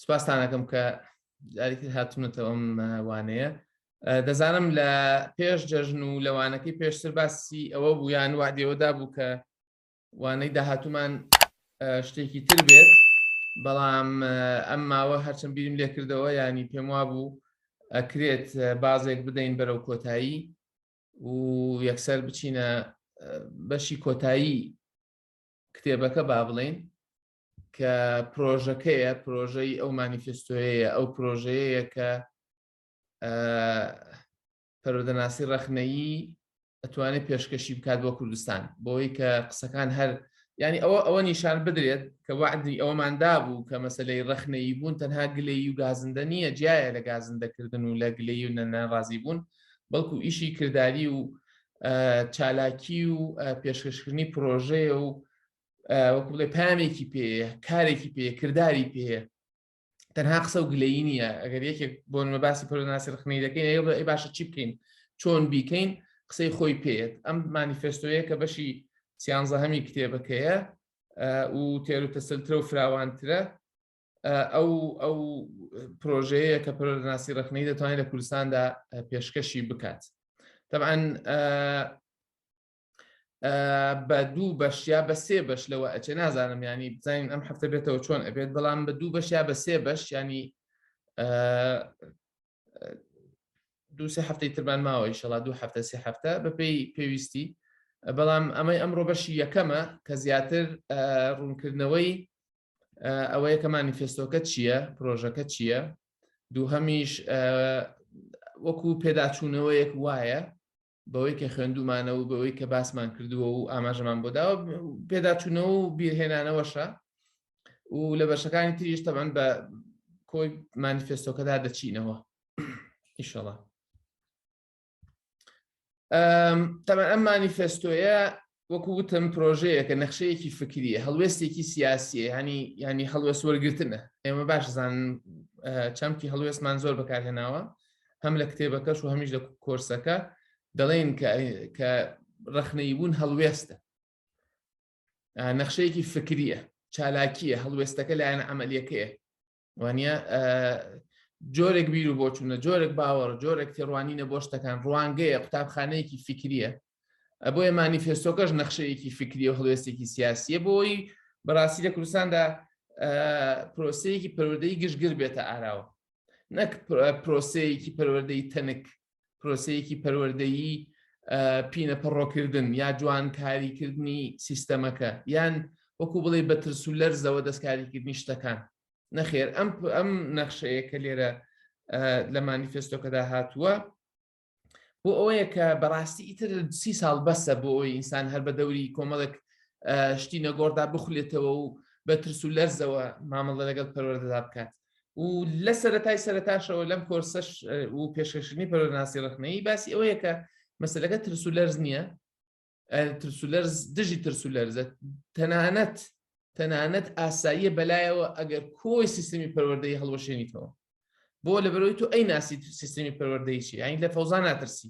سپاستانەکەم کە جارێکی هاتونەتەوە ئەم وانەیە دەزانم لە پێش جەژن و لەوانەکەی پێشتر باسی ئەوە بوو یان وادێوەدا بوو کە وانەی داهاتومان شتێکی تر بێت بەڵام ئەم ماوە هەرچەند بیرم لێکردەوە ینی پێم وا بوو ئەکرێت بازێک بدەین بەرەو کۆتایی و یەکسەر بچینە بەشی کۆتایی کتێبەکە با بڵین کە پرۆژەکەیە پرۆژەی ئەو مانیفستۆیەیە ئەو پرۆژەیە کە پەرۆدەناسی ڕەخنەیی ئەتوانێت پێشکەشی بکات بۆ کوردستان بۆی کە قسەکان هەر ینی ئەوە ئەوە نیشان بدرێت کە وعدی ئەوماندا بوو کە مەسلەی ڕەخنەیی بوون تەنها گلەی و گازندە نییە جیایە لە گازندەکردن و لە گلەی و نەناڕازی بوون بەڵکو ئیشی کردداری و چالاکی و پێشکەشکردنی پرۆژەیە و وەکو بڵێ پامێکی پێ کارێکی پێ کردداری پێ تەنها قسە و گلەی نییە ئەگەر یەکێک بۆن مە باسی پرۆناسی رخنەی دەکەین ئەی بڵێ باشە چی بکەین چۆن بیکەین قسەی خۆی پێێت ئەم مانیفستۆیە کە بەشی سیانزە هەمی کتێبەکەیە و تێر و تەسلترە و فراوانترە ئەو ئەو پرۆژەیە کە پرۆناسی ڕخنەی دەتوانێت لە کوردستاندا پێشکەشی بکات طبعاً بە دوو بەش یا بە سێ بەش لەوە ئەچێ نازانم ینی بزانین ئەم هەفتە بێتەوە چۆن ئەبێت بەڵام بە دوو بەش یا بە سێ بەش ینی دوو سێ هەفتەی تربان ماوە ئیشەڵا دوو هەفتە سێ هەفتە بەپی پێویستی بەڵام ئەمەی ئەمڕۆ بەشی یەکەمە کە زیاتر ڕوونکردنەوەی ئەوەیە کە مانیفستۆکە چییە پرۆژەکە چییە دووهەمیش وەکو پێداچوونەوەیەک وایە بەوەی کە خوێندومانە و بەوەی کە باسمان کردووە و ئاماژەمان بۆ داوە پێداچوونەوە و بیرهێنانەوەشە و لە بەشەکانی تریش تەبەن بە کۆی مانیفستۆکەدا دەچینەوە ئیشەڵە تەمە ئەم مانیفستۆیە وەکو وتم پرۆژەیەکە نەخشەیەکی فکریە هەڵوێستێکی سیاسیە ینی ینی هەڵوێست وەرگتنە ئێمە باش زان چەمکی هەڵوێستمان زۆر بەکارهێناوە هەم لە کتێبەکەش و هەمیش لە کۆرسەکە دەڵێن کە ڕخنەی بوون هەڵوێستە نەخشەیەکی فکریە چالاکیە هەڵوێستەکە لایەن ئەعملیەکەیە وانە جۆرێک بیر و بۆچوونە جۆرێک باوەڕ جۆرێک تێڕوانینە بۆ شتەکان ڕوانگەیە قوتابخانەیەکی فکریە ئەبۆیە مانیفێستۆکەش نەخشەیەکی فکری و هەڵوێستێکی سیاسیە بۆی بەڕاستی لە کوردستاندا پرۆسەیەکی پەروەدەی گشتگر بێتە ئاراوە نەک پرۆسەیەکی پەروەدەی تەنک پرۆسەیەکی پەروەردەیی پینە پەڕۆکردن یا جوان کاریکردنی سیستەمەکە یان وەکو بڵێ بە ترس و لەرزەوە دەستکاریکردنی شتەکان نەخێر ئەم ئەم نەخشەیە کە لێرە لە مانیفستۆکەدا هاتووە بۆ ئەوەیە کە بەڕاستی ئیتر سی ساڵ بەسە بۆ ئەوی ئینسان هەر بە دەوری کۆمەڵک شتی نەگۆڕدا بخولێتەوە و بە ترس و لەرزەوە مامەڵە لەگەڵ پەروەردەدا بکات و لە سەرەتای سەرتاشەوە لەم کۆرسەش و پێشکەشنی پەرۆناسی ڕخنەی باسی ئەوەیە کە مەسلەکە ترسولەرز نییە ترسولەرز دژی ترسولەرزە تەنانەت تەنانەت ئاساییە بەلایەوە ئەگەر کۆی سیستمی پەروەردەی هەڵوەشێنیتەوە بۆ لە بەرەوەی تو ئەی ناسی سیستمی پەروەردەیشی ئاین لە فەوزان ناترسی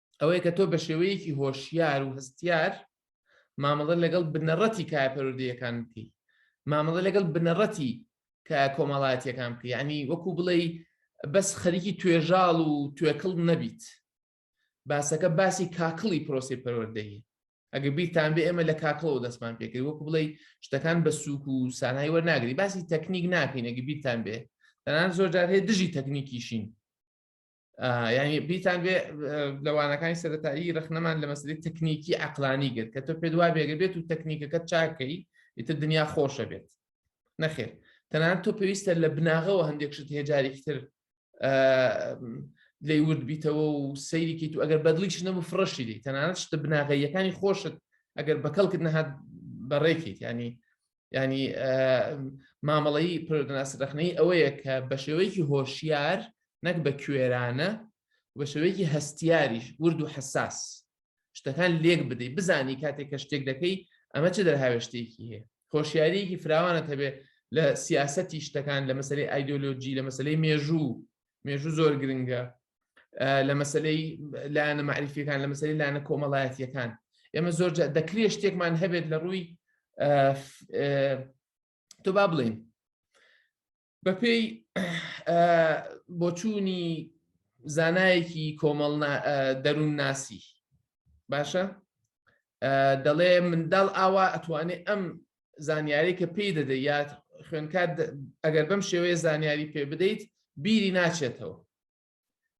ئەوەیە کە تۆ بە شێوەیەکی هۆشیار و هەستیار مامەڵە لەگەڵ بنەڕەتی کایە پەرودەیەکان بکەی مامەڵە لەگەڵ بنەڕەتی کە کۆمەڵاتیەکان بکە ینی وەکو بڵێ بەس خەریکی توێژاڵ و توێکڵ نەبیت باسەکە باسی کاکڵی پرۆسی پەروەردەیە ئەگە بیرتان بێ ئێمە لە کاکڵەوە دەستمان پێکرد وەکو بڵێ شتەکان بە سووک و سانایی وەرناگری باسی تەکنیک ناکەین ئەگە بیرتان بێ دەنان زۆر جارهەیە دژی تەکنیکیشین یعنی بیتان بێ لەوانەکانی سەرەتایی رەخنەمان لە مەسلی تەکنیکی عقلانی گرت کە تۆ پێدوا بێگە بێت و تەکنیکەکە چاکەی ئیتر دنیا خۆشە بێت نەخێر تەنان تۆ پێویستە لە بناغەوە هەندێک شت هێجارێکتر لی ورد بیتەوە و سەیرێکی تو ئەگەر بەدلیش نەبوو فڕشی دی تەنانەت شتە بناغەیەکانی خۆشت ئەگەر بەکەڵکت نەهات بەڕێکیت ینی ینی مامەڵەی پرۆدناسی ڕخنەی ئەوەیە کە بە شێوەیەکی هۆشیار نەک بە کوێرانە بە شێوەیەکی هەستیاریش ورد و حساس شتەکان لێک بدەیت بزانی کاتێک کە شتێک دەکەی ئەمە چ دەرهاوێشتێکی هەیە هۆشیاریەکی فراوانە هەبێ لە سیاستی شتەکان لە مەسلەی ئایدۆلۆجی لە مەسلەی مێژوو مێژوو زۆر گرنگە لە مەسلەی لایەنە معریفیەکان لە مەسلەی لایەنە کۆمەڵایەتیەکان ئێمە زۆر دەکرێت شتێکمان هەبێت لە ڕووی تو با بڵین بەپێی بۆچوونی زانایەکی کۆمەڵ دەروون ناسی باشە دەڵێ منداڵ ئاوا ئەتوانێت ئەم زانیاری کە پێی دەدە یا خوێنکار ئەگەر بەم شێوەیە زانیاری پێ بدەیت بیری ناچێتەوە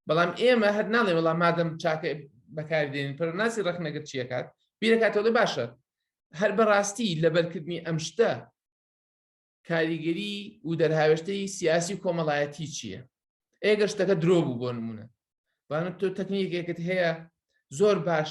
بەڵام ئێمە هەر ناڵێ وەڵام مادەم چاکە بەکاردێن پەرناسی ڕخنەگەر چیەکات بیرەکاتەوە باشە هەر بەڕاستی لەبەرکردنی ئەم شتە کاریگەری و دەرهاوێشتەی سیاسی کۆمەڵایەتی چییە ئێگە شتەکە درۆ بوو بۆ نمونە بانە تۆ تەکنیکێکت هەیە زۆر باش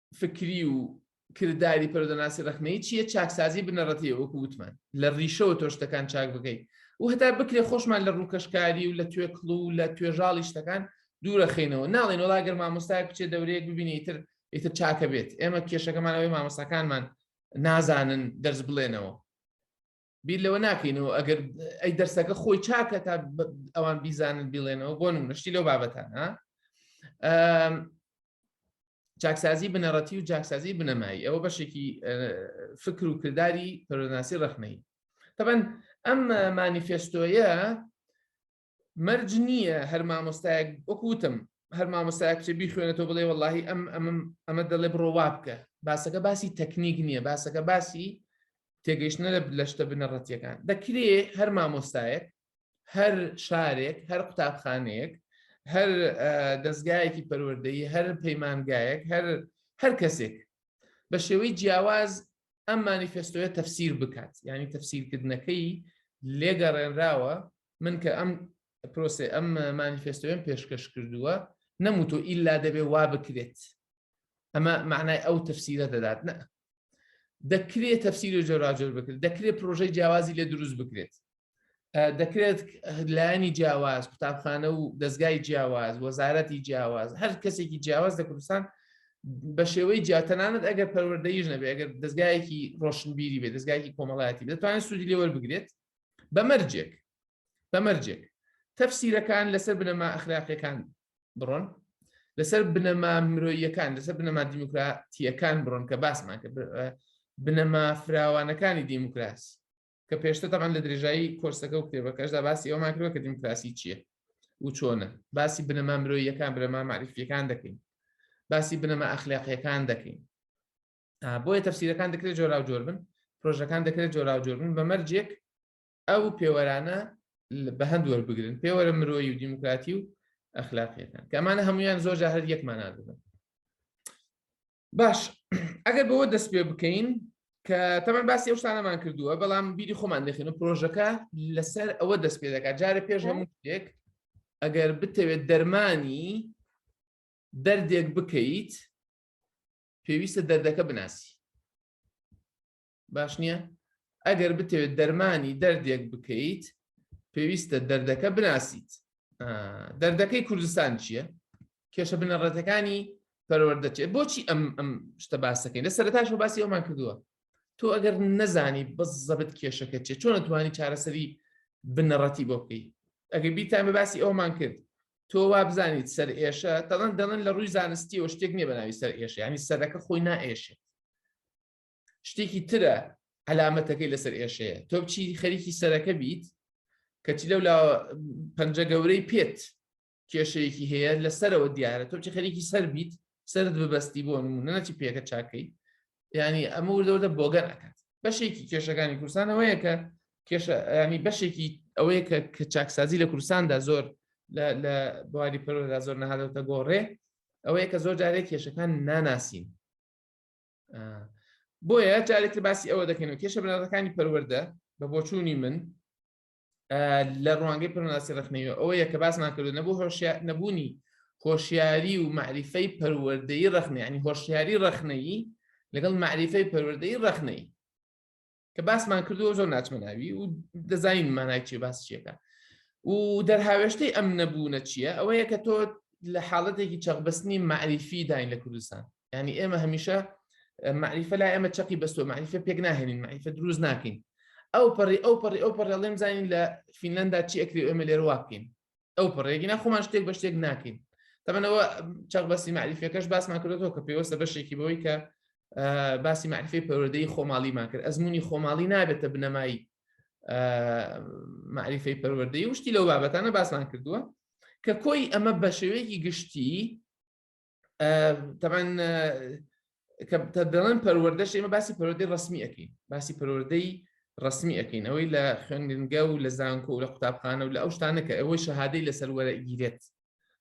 فکری و کرداری پەرۆدەناسی ڕەخنەی چییە چاکسازی بنەڕەتی وەکو وتمان لە ڕیشەوە تۆ شتەکان چاک بکەی و هەتا بکرێ خۆشمان لە ڕووکەشکاری و لە توێکڵ و لە توێژاڵی شتەکان دوورەخینەوە ناڵێن وڵا گەر مامۆستایەک بچێت دەورەیەک ببینی تر ئیتر چاکە بێت ئێمە کێشەکەمانەوەی مامۆستاکانمان نازانن دەرز بڵێنەوە بیر لەوە ناکەین و ئەگەر ئەی دەرسەکە خۆی چاکە تا ئەوان بیزانن بیڵێنەوە بۆ نمونەشتی لەو بابەتان ها چاکسازی بنەڕەتی و جاکسازی بنەمایی ئەوە بەشێکی فکر و کردداری پەرۆناسی ڕخنەی تەبەن ئەم مانیفێستۆیە مەرج نییە هەر مامۆستایەک وەکو وتم هەر مامۆستایە کچە بیخوێنێتەوە بڵێ وەڵی ئەم ئەمم ئەمە دەڵێ بڕۆ وا بکە باسەکە باسی تەکنیک نییە باسەکە باسی تێگەیشتنە لە لە شتە بنەڕەتیەکان دەکرێ هەر مامۆستایەک هەر شارێک هەر قوتابخانەیەک هەر دەستگایەکی پەروەردەی هەر پەیمانگایەک هەر هەر کەسێک بە شێوەی جیاواز ئەم مانیفستۆیە تەفسیر بکات ینی تەفسیرکردنەکەی لێگەڕێنراوە من کە ئەم پرۆسێ ئەم مانیفێستۆیەم پێشکەش کردووە نەموتۆ ئیلا دەبێ وا بکرێت ئەمە معنای ئەو تەفسیرە دەدات نە دەکرێت تەفسیر و جۆراجۆر بکرێت دەکرێت پرۆژەی جیاوازی لێ دروست بکرێت دەکرێت لایانی جیاواز قوتابخانە و دەستگای جیاواز وەزارەتی جیاواز هەر کەسێکی جیاواز لە کوردستان بە شێوەی جیاتەنانت ئەگەر پەروەردەیش نەبێت ئەگەر دەستگایەکی ڕۆشنبیری بێت دەستگایکی کۆمەڵایەتی دەتوانێت سوودی لێوەر بگرێت بە مەرجێک بە مەرجێک تەفسیرەکان لەسەر بنەما ئەخلاقیەکان بڕۆن لەسەر بنەما مرۆیەکان لەسەر بنەما دیموکراتیەکان بڕۆن کە باسمان کە بنەما فراوانەکانی دیموکراسی کە پێشتە تەمان لە درێژایی کۆرسەکە و کتێبەکەشدا باسی ئەومان کرد کە دیموکراسی چییە و چۆنە باسی بنەما مرۆیەکان بنەما معریفیەکان دەکەین باسی بنەما ئەخلاقیەکان دەکەین بۆیە تەفسیرەکان دەکرێت جۆراو جۆر بن پرۆژەکان دەکرێت جۆراو جۆر بن بە مەرجێک ئەو پێوەرانە بە هەند وەربگرن پێوەرە مرۆیی و دیموکراتی و ئەخلاقیەکان کەمانە هەمویان زۆر جاهر یەکمانان بن باش ئەگەر بەوە دەست پێ بکەین کە تەمان باسی ئەو شتانەمان کردووە بەڵام بیری خۆمان دەخێن و پرۆژەکە لەسەر ئەوە دەست پێ دەکات جارە پێش هەموو شتێک ئەگەر بتەوێت دەرمانی دەردێک بکەیت پێویستە دەردەکە بناسی باش نییە ئەگەر بتەوێت دەرمانی دەردێک بکەیت پێویستە دەردەکە بناسیت دەردەکەی کوردستان چییە کێشە بنەڕەتەکانی پەروەردەچێت بۆچی ئەم ئەم شتە باسەکەین لە سەرتاش و باسی ئەومان کردووە تۆ ئەگەر نەزانی بەس زەبت کێشەکە چێت چۆن توانی چارەسەری بنەڕەتی بۆ بکەیت ئەگەر بیتان بە باسی ئەومان کرد تۆ وا بزانیت سەر ئێشە دەڵەن دەڵەن لە ڕووی زانستیەوە شتێک نیە بەناوی سەر ئێشە ینی سەرەکە خۆی نائێشێت شتێکی ترە علامەتەکەی لەسەر ئێشەیە تۆ بچی خەریکی سەرەکە بیت کەچی لەو لا پەنجە گەورەی پێت کێشەیەکی هەیە لەسەرەوە دیارە تۆ بچی خەریکی سەر بیت سرد ببەستی بۆ نمونە نەچی پێکە چاکەی ینی ئەمە وردەوردە بۆگەن ئەکات بەشێکی کێشەکانی کوردستانەوەیە کە کێشە ینی بەشێکی ئەوەیە کە کە چاکسازی لە کوردستاندا زۆر لە بواری پەرۆدا زۆر نەهادەوتە گۆڕێ ئەوەیە کە زۆر جارێک کێشەکان ناناسین بۆیە جارێکتر باسی ئەوە دەکەن و کێشە بنەڕەتەکانی پەروەەردە بە بۆچوونی من لە ڕوانگەی پرناسی ڕخنەوە ئەوە یە کە باسمان کردو نەبوو هۆشیار نەبوونی هۆشیاری و معریفەی پەروەردەی ڕخنیانی هۆشیاری ڕخنەیی لەگەڵ معریفەی پەروەردەی ڕخنەی کە باسمان کردو زۆر ناچمەناوی و دەزانین مانای چێ باس چیەکە و دەرهاوێشتەی ئەم نەبوونە چییە ئەوەیە کە تۆ لە حاڵەتێکی چەقبستنی معریفی داین لە کوردستان ینی ئێمە هەمیشە معریفە لا ئێمە چەقی بەستۆ معریفە پێک ناهێنین معریفە دروست ناکەین ئەو پەڕی ئەو پەڕی ئەو پەڕێ لێم زانین لە فینلندا چی ئەکری ئێمە لێر واکەین ئەو پەڕێگی ناخۆمان شتێک بە شتێک ناکەین تەمەەوە چەق بەسی معریفەکەش باسمان کردەوە کە پێوەستە بەشێکی بەوەی کە باسی معریفی پەروەدەی خۆماڵیمان کرد ئەزمموی خۆماڵی نابێتە بنەمایی معریفی پەروەدەی وشتی لەو بابەتانە باسمان کردووە کە کۆی ئەمە بە شێوەیەکی گشتی تەبەن کە دەڵێن پەروەردەش ئێمە باسی پەرۆدەی ڕسمی ئەەکەین باسی پەرۆردەی ڕسمی ئەەکەین ئەوەی لە خوێنگە و لە زانکۆ و لە قوتابخانە و لە ئەو شتانە کە ئەوەی شەهادەی لە سەروەرە گیرێت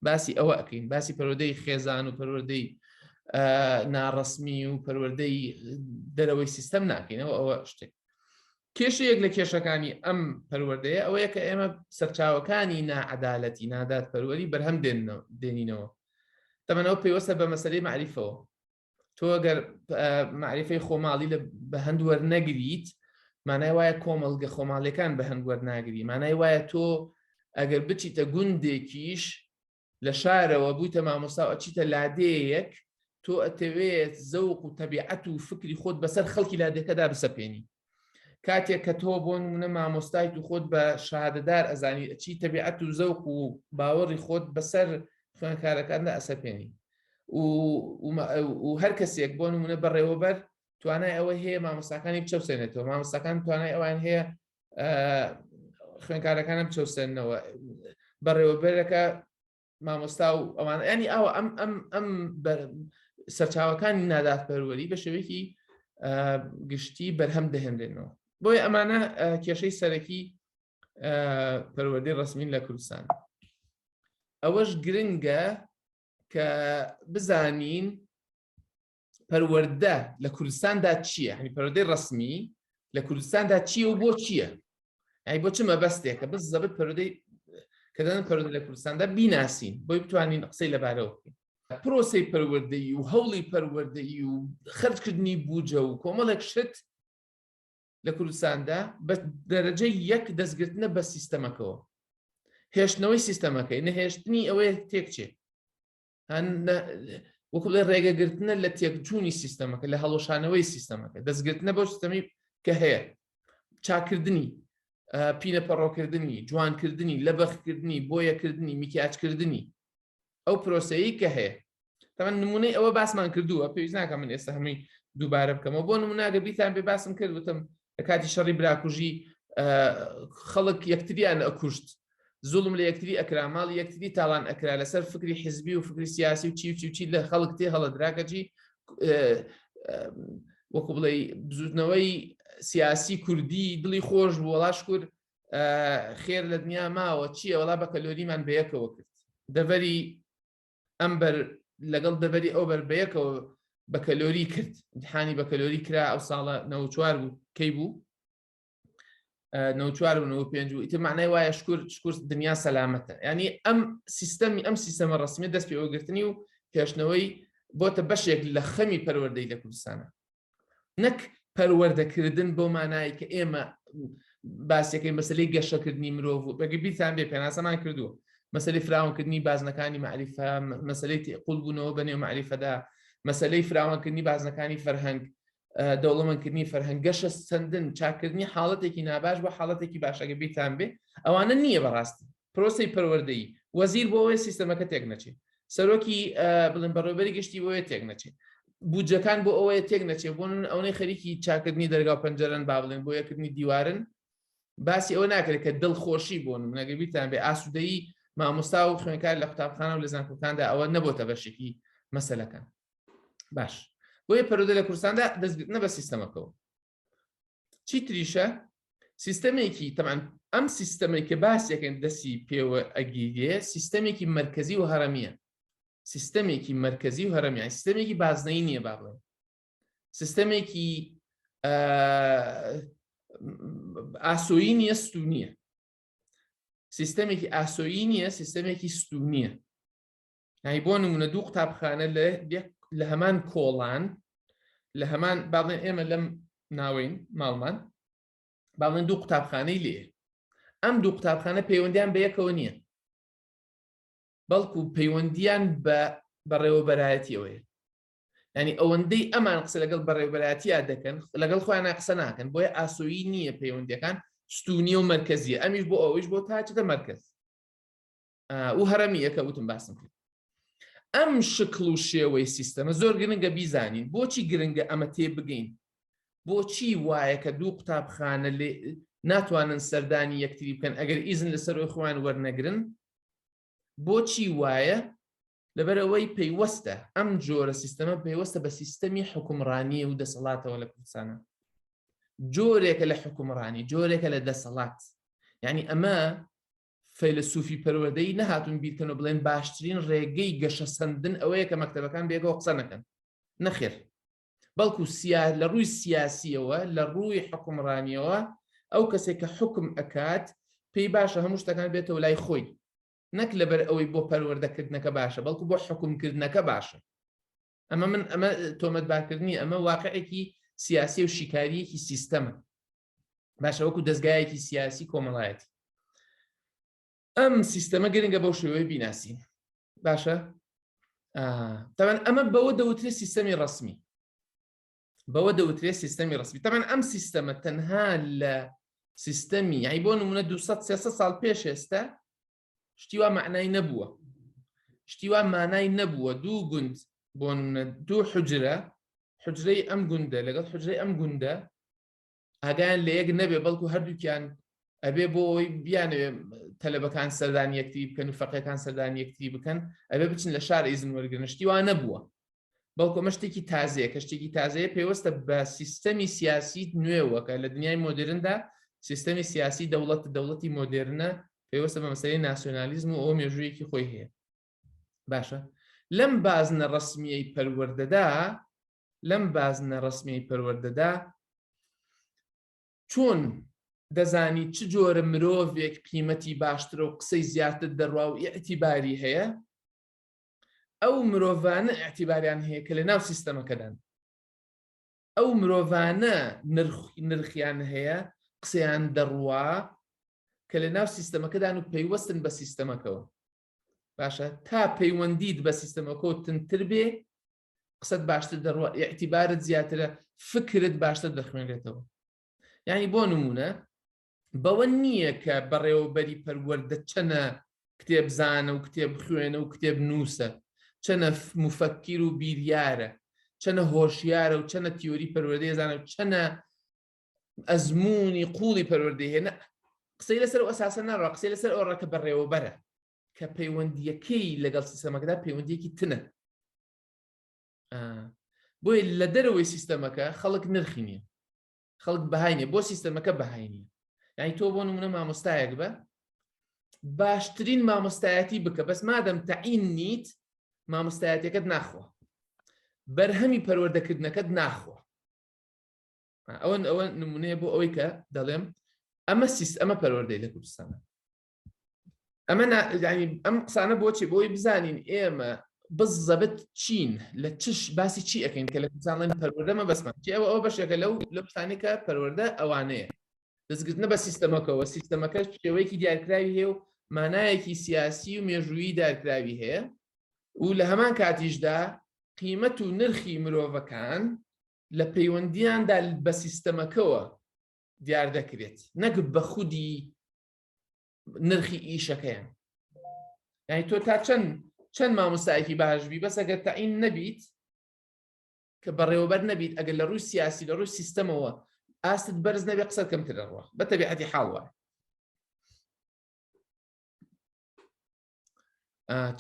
باسی ئەوە ئەەکەین باسی پەرۆدەی خێزان و پەروەردەی ناڕسمی و پەروەردەی دەرەوەی سیستەم ناکەینەوە ئەوە شتێک کێشەیەک لە کێشەکانی ئەم پەروەردەیە ئەوەیە کە ئێمە سەرچاوەکانی ناعەدالەتی نادادپەروەری بەرهەم دێنینەوە تەمەەوە پێوەستە بە مەسەری معریفەوە تۆ گەر معریفەی خۆماڵی لە بە هەندوەر نەگریت مانای وایە کۆمەڵگە خۆماڵیەکان بە هەنگوەر ناگری مانای وایە تۆ ئەگەر بچیتە گوندێکیش لە شارەوە بوویتە مامۆستا و ئەچیتە لادێیەک، تۆ ئەتەوێت زەوق و تەبیعەت و فکری خۆت بەسەر خەڵکی لادێکەدا بسەپێنی. کاتێک کە تۆ بۆ نموونە مامۆستایت و خۆت بە شەهادەدار ئەزانی، ئەچی تەبیعەت و زەوق و باوەڕی خۆت بەسەر خوێندکارەکاندا ئەسەپێنی و هەر کەسێک بۆ نموونە بەڕێوەبەر توانای ئەوەی هەیە مامۆستاکانی بچەوسێنێتەوە، مامۆستاکان توانای ئەوەیان هەیە خوێنکارەکانم چەوسێنەوە بەڕێوەبەرەکە مامۆستا و ئەوان ینی ئەوە ئەم ئەم ئەم سەرچاوەکانی نادات پەروەری بە شێوەیەکی گشتی بەرهەم دەهێنرێنەوە بۆی ئەمانە کێشەی سەرەکی پەروەردەی ڕسمین لە کوردستان ئەوەش گرنگە کە بزانین پەروەەردە لە کوردستاندا چییە هەنی پەرۆدەی ڕسمی لە کوردستاندا چییە و بۆ چییە؟ ئەی بۆ چ مەبەستێکە بز زەبت پەرۆدەی کە دەن پەرۆدە لە کوردستاندا بیناسین بۆی بتوانین قسەی لەبارەوە بکەین. پرۆسی پەروەردەی و هەوڵی پەروەردەی و خرجکردنی بوجە و کۆمەڵێک شت لە کوردستاندا بە دەرەجە یەک دەستگرتنە بە سیستەمەکەەوە هێشتنەوەی سیستەمەکەی نەهێشتنی ئەوەیە تێکچێت وەکڵێ ڕێگەگرتنە لە تێکجوونی سیستەمەکە لە هەڵۆشانەوەی سیستەمەکە دەستگرتنە بۆ سیستەمی کە هەیە چاکردنی پینە پەڕۆکردنی جوانکردنی لەبەخکردنی بۆیەکردنی میکیاجکردنی ئەو پرۆسەیە کە هەیە تەمە نمونەی ئەوە باسمان کردووە پێویست ناکە من ئێستا هەمووی دووبارە بکەمەوە بۆ نموناگە بیتان بێ باسم کرد وتم لە کاتی شەڕی براکوژی خەڵک یەکتریان ئەکوشت زوڵم لە یەکتری ئەکرا ماڵ یەکتری تاوان ئەکرا لەسەر فکری حزبی و فکری سیاسی و چی چی لە خەڵک تێ هەڵدراکەجی وەکو بڵێ بزوتنەوەی سیاسی کوردی دڵی خۆش بوو وڵاش کورد خێر لە دنیا ماوە چییە وڵا بە کەلۆریمان بەیەکەوە کرد دەڤەری ئەم بەر لەگەڵ دەبەری ئەو بەر بەیەکەوە بەکەلۆری کرد امتحانی بەکەلۆری کرا ئەو ساڵە نەوچوار بوو کەی بوو نەوچوار و نەوە پێنج و ئیتر معنای وایە شکر شکر دنیا سەلامەتە ینی ئەم سیستەمی ئەم سیستەمە ڕسمی دەست پێوەگرتنی و هێشتنەوەی بۆتە بەشێک لە خەمی پەروەردەی لە کوردستانە نەک پەروەردەکردن بەو مانایی کە ئێمە باسەکەی مەسلەی گەشەکردنی مرۆڤ و بەگە بیرتان بێ پێناسەمان کردووە مەسلی فراونکردنی بازنەکانی معریفە مەسلەی تێقل بوونەوە بە نێو معریفەدا مەسلەی فراوانکردنی بازنەکانی فەرهەنگ دەوڵەمەندکردنی فەرهەنگ گەشە سندن چاکردنی حاڵەتێکی ناباش بۆ حاڵەتێکی باشەکە بیرتان بێ ئەوانە نییە بەڕاستی پرۆسەی پەروەردەیی، وەزیر بۆ وەیە سیستەمەکە تێک نەچێ، سەرۆکی بڵێن بەڕێوەبەری گشتی بۆ وەیە تێک نەچێ، بودجەکان بۆ ئەوەیە تێک نەچێ، بۆ نمونە ئەونەی خەریکی چاکردنی دەرگاو پەنجەرەن با بڵێن بۆ یەکردنی دیوارن باسی ئەوە ناکرێت کە دڵخۆشی بۆ نمونە گەر بیرتان بێ ئاسودەیی مامۆستا و خوێنکار لە قوتابخانە و لە زانکۆکاندا ئەوە نەبۆتە بەشێکی مەسەلەکان باش بۆیە پەرودە لە کورساندا دەستگرتنە بە سیستەمەکەەوە چی تریشە سیستەمێکی تەمان ئەم سیستەمێکە باسیەکەن دەسی پێوە ئەگیرێ سیستەمێکی مرکزی و هەرەمیە سیستەمێکی مرکزی و هەرەمیان سیستەمێکی بازنەی نییە با بڵێن سیستەمێکی ئاسۆیی نیە ستونیە سیستەمێکی ئاسۆیی نیە سیستەمێکی ستونیە یعنی بۆ نمونە دوو قوتابخانە لە هەمان کۆڵان لە هەمان باڵێن ئێمە لەم ناوەین ماڵمان باڵێن دوو قوتابخانەی لێ ئەم دوو قوتابخانە پەیوەندیان بە یەکەوە نییە بەڵکو پەیوەندیان بە بەڕێوەبەرایەتیەوەی ینی ئەوەندەی ئەمان قسە لەگەڵ بەڕێوبەراتیا دەکەن لەگەڵ خۆیان قسە ناکەن بۆیە ئاسۆیی نییە پەیوەندەکان ستونی و مرکزی ئەمیش بۆ ئەوەیش بۆ تاچەکە مرکز و هەرەمی یەکە وتم باسم کرد ئەم شکڵ و شێوەی سیستەمە زۆر گرنگە بیزانین بۆچی گرنگە ئەمە تێ بگەین بۆچی وایە کە دوو قوتابخانە لێ ناتوانن سەردانی یەکتری بکەن ئەگەر ئیزن لەسەرۆی خۆیان وەرنەگرن بۆچی وایە لەبەرەوەی پەیوەستە ئەم جۆرە سیستەمە پەیوەستە بە سیستەمی حکومڕانی و دەسەڵاتەوە لە کوردستانە جۆرێکە لە حکومڕانی جۆرێکە لە دەسەڵات یعنی ئەمە فەیلەسوفی پەروەردەیی نەهاتوون بیرکەن و بڵێن باشترین ڕێگەی گەشەسەندن ئەوەیە کە مەکتەبەکان بەیەکەوە قسە نەکەن، نەخێر، بەڵکو لە ڕووی سیاسییەوە، لە ڕووی حوکمڕانییەوە ئەو کەسێک کە حوکم ئەکات پێی باشە هەموو شتەکان بێتەوە لای خۆی، نەک لەبەر ئەوەی بۆ پەروەردەکردنەکە باشە، بەڵکو بۆ حوکمکردنەکە باشە. ئەمە من ئەمە تۆمەتبارکردنی ئەمە واقعێکی سیاسی و شیکارییەکی سیستەمە. باشە وەکو دەستگایەکی سیاسی کۆمەڵایەتی ئەم سیستەمە گرنگە بەو شێوەی بیناسی باشە تەوان ئەمە بەوە دەوترێت سیستەمی ڕسمی بەوە دەوترێت سیستەمی ڕسمی تەمان ئەم سیستەمە تەنها لە سیستەمی یای بۆ نمونە 200 سال پێش ئێستا شتیوا معنای نەبووە شتیوا مانای نەبووە دوو گوند بۆ نمونە دوو حجرە حجرەی ئەم گوندە لەگەڵ حجرەی ئەم گوندە ئاگایان لە یەک نەبێ بەڵکو هەردووکیان ئەبێ بۆ ئەوی بیانەوێ تەلەبەکان سەردان یەکتی بکەن و فەقەکان سەردان یەکتی بکەن ئەبێ بچن لە شار ئیزن وەرگرنشتی وانە بووە بەڵکۆ مەشتێکی تازەیە کە شتێکی تازەیە پێوەستە بە سیستەمی سیاسی نوێوەکە لە دنیای مۆدرندا سیستەمی سیاسی دەوڵەت دەوڵەتی مۆدررنە پێوەستە بە مەسەی ناسیۆنالیزم و ئەو مێژوویەکی خۆی هەیە باشە لەم بازنە ڕسمیەی پەروەردەدا لەم بازنە ڕەسمیەی پەروەردەدا چۆن دەزانی چ جۆرە مرۆڤێک قیمەتی باشترە و قسەی زیاتر دەڕوا و ئیعتیباری هەیە ئەو مرۆڤانە ئەتیباریان هەیە کە لە ناو سیستەمەکەدان ئەو مرۆڤانە نرخیان هەیە قسەیان دەڕوا کە لە ناو سیستەمەکەدان و پەیوەستن بە سیستەمەکەەوە باشە تا پەیوەندیت بە سیستەمەکە تنتر بێ قسەت باشتر دەڕوە ئیعتیبارت زیاترە فکرت باشتر دەخوێنێتەوە یعنی بۆ نمونە بەوە نییە کە بەڕێوەبەری پەروەەردە چەنە کتێبزانە و کتێب خوێنە و کتێب نووسە چەنە مفەکیر و بیریارە چەنە هۆشیارە و چەنە تیۆری پەروەردەیەزانە و چەنە ئەزمموی قوڵی پەروەردەهێنە قسەی لەسەر ئەساسە ناڕە قسەی لەسەر ئەو ڕەکە بەڕێوەبەرە کە پەیوەندیەکەی لەگەڵ سیستەمەکەدا پەیوەندیەکی تنە بۆیە لە دەرەوەی سیستەمەکە خەڵک نرخی نیە خەڵک بەهاینێ بۆ سیستەمەکە بەهاینی یعنی تۆ بۆ نمونە مامۆستایەک بە باشترین مامۆستایەتی بکە بەس مادەم تەعین نیت مامۆستایەتەکەت ناخۆ بەرهەمی پەروەردەکردنەکەت ناخۆ ئەوەن ئەوە نمونەیە بۆ ئەوەی کە دەڵێم ئەمە سیست ئەمە پەروەردەی لە کوردستانە ئەمە ینی ئەم قسانە بۆچێ بۆی بزانین ئێمە بزەبت چین لە چش باسی چی ئەەکەین کە لە کوردستانڵێن پەروەدەمە بەسمان چی ئەوە ئەو بەشێکە لەو لە پسانێکە پەروەەردە ئەوانەیە دەستگرتنە بە سیستەمەکەەوە سیستەمەکە شێوەیەکی دیارکراوی هەیە و مانایەکی سیاسی و مێژوویی دارکراوی هەیە و لە هەمان کاتیشدا قیمەت و نرخی مرۆڤەکان لە پەیوەندیاندا بە سیستەمەکەەوە دیار دەکرێت نەک بە خودی نرخی ئیشەکەیان یعنی تۆ تا چەند چەند مامۆستایەکی باشبی بەسەگەر تەعین نەبیت کە بەڕێوەبەر نەبیت ئەگەر لە ڕووی سیاسی لە ڕووی سیستەمەوە ئاستت بەرز نەبێ قسە کەمترەڕوە بە تەبیعەتی حاڵوە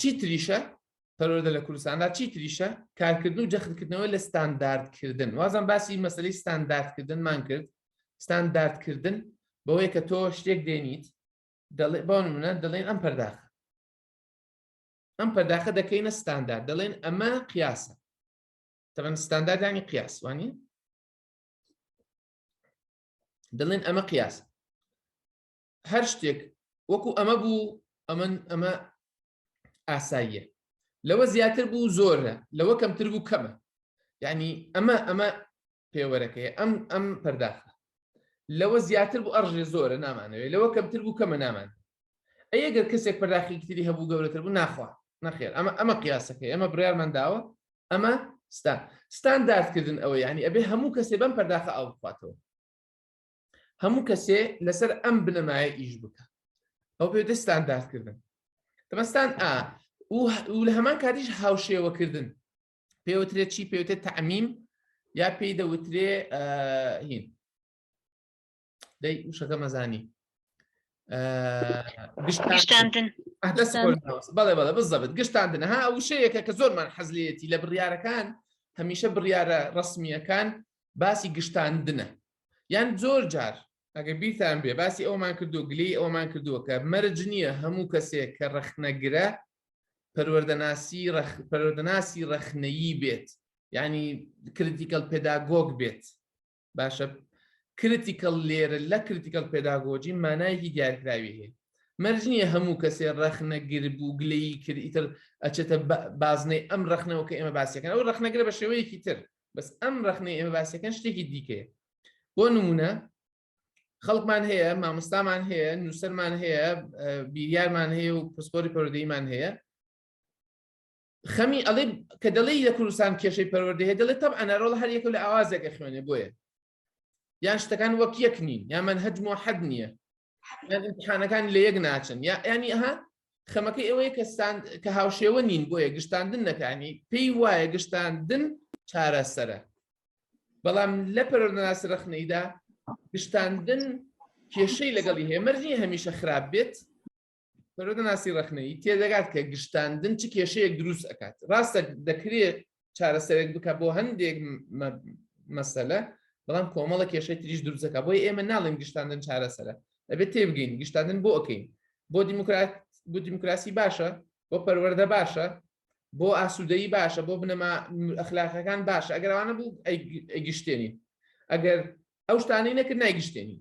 چی تریشە پەرۆدە لە کوردستاندا چی تریشە کارکردن و جەختکردنەوە لە ستانداردکردن وازم باسی مەسلی ستانداردکردنمان کرد ستانداردکردن بەوەی کە تۆ شتێک دێنیت دەڵێ بەون منە دەڵێن ئەم پەرداخە ئەم پەرداخە دەکەینە ستاندارد دەڵێن ئەمە قیاسە تەمەن ستانداردانی قیاسوانی دەڵێن ئەمە قیاس هەر شتێک وەکو ئەمە بوو ئەمن ئەمە ئاساییە لەوە زیاتر بوو زۆرە لەوە کەمتر بوو کەمە یعنی ئەمە ئەمە پێوەرەکەی ئەم ئەم پەرداخە لەوە زیاتر بوو ئەڕژێ زۆرە نامانەوەی لەوە کەمتر بوو کەمە نامان ئەگەر کەسێک پەرداخی تری هەبوو گەورەتر بوو ناخوا نەخێر ئەمە ئەمە قیاسەکەی ئەمە بڕارمان داوە ئەمە ستان ستانداردکردن ئەوە یعنی ئەبێ هەموو کەسێ بەم پەرداخە ئاو بخواتەوە هەموو کەسێ لەسەر ئەم بنەمایە ئیش بکە ئەو پێ دەستان داستکردن دەمەستان ئا و لە هەمان کاتیش هاوشێوەکردن پێوترێت چی پێوتێ تعمیم یا پێی دەوترێ هین دەی وشەکە مەزانی گشتاندن بەڵێ بەڵێ بزەبت گشتاندن ها وشەیەکە کە زۆرمان حەزلێتی لە بڕیارەکان هەمیشە بڕیارە ڕسمیەکان باسی گشتاندنە یان زۆر جار ئەگە بیرتان بێ باسی ئەومان کردو گلەی ئەومان کردووە کە مەرج نییە هەموو کەسێک کە ڕەخنەگرە پەروەردەناسی پەرۆدەناسی ڕەخنەیی بێت ینی کریتیکەل پێداگۆگ بێت باشە کریتیکەل لێرە لە کریتیکەل پێداگۆجی مانایکی دیارکراوی هەیە مەرج نییە هەموو کەسێ ڕەخنە گرب و گلەیی کرد ئیتر ئەچێتە بازنەی ئەم ڕەخنەوە کە ئێمە باسیەکەن ئەو ڕەخنەگرە بە شێوەیەکی تر بەس ئەم ڕخنەی ئێمە باسەکەن شتێکی دیکەیە بۆ نمونە خەڵکمان هەیە مامۆستامان هەیە نووسەرمان هەیە بیریارمان هەیە و پسپۆری پەرۆدەیمان هەیە خەمی ئەڵێ کە دەڵی لە کوردستان کێشەی پەروەردە هەیە دەڵێت تەب ئەنەرۆڵ هەر یەکە لە ئاوازێکە خوێنێ بۆیە یان شتەکان وەک یەک نین یامەەن هەجمۆ حەد نییە امتحانەکانی لە یەک ناچن یا ینی ئەها خەمەکەی ئەوەیە کە ستاند کە هاوشێوە نین بۆیە گشتاندن نەکانی پێی وایە گشتاندن چارەسەرە بەڵام لە پەرۆناس رەخنەیدا گشتاندن کێشەی لەگەڵی هەیە مەرجی هەمیشە خراپ بێت سەرۆکەناسی ڕەخنەیی تێدەگات کە گشتاندن چ کێشەیەک دروست ئەکات ڕاستە دەکرێت چارەسەرێک بکە بۆ هەندێک مەسەلە بەڵام کۆمەڵە کێشەی تریش دروستەکە بۆی ئێمە ناڵێن گشتاندن چارەسەرە دەبێت تێبگەین گشتاندن بۆ ئەەکەین بۆ دیموکرات بۆ دیموکراسی باشە بۆ پەروەەردە باشە بۆ ئاسوودەی باشە بۆ بنەما ئەخلاقەکان باشە ئەگەرانە بوو ئەگشتێنین ئەگەر ئەو شتانەی نەکرد نایگشتێنین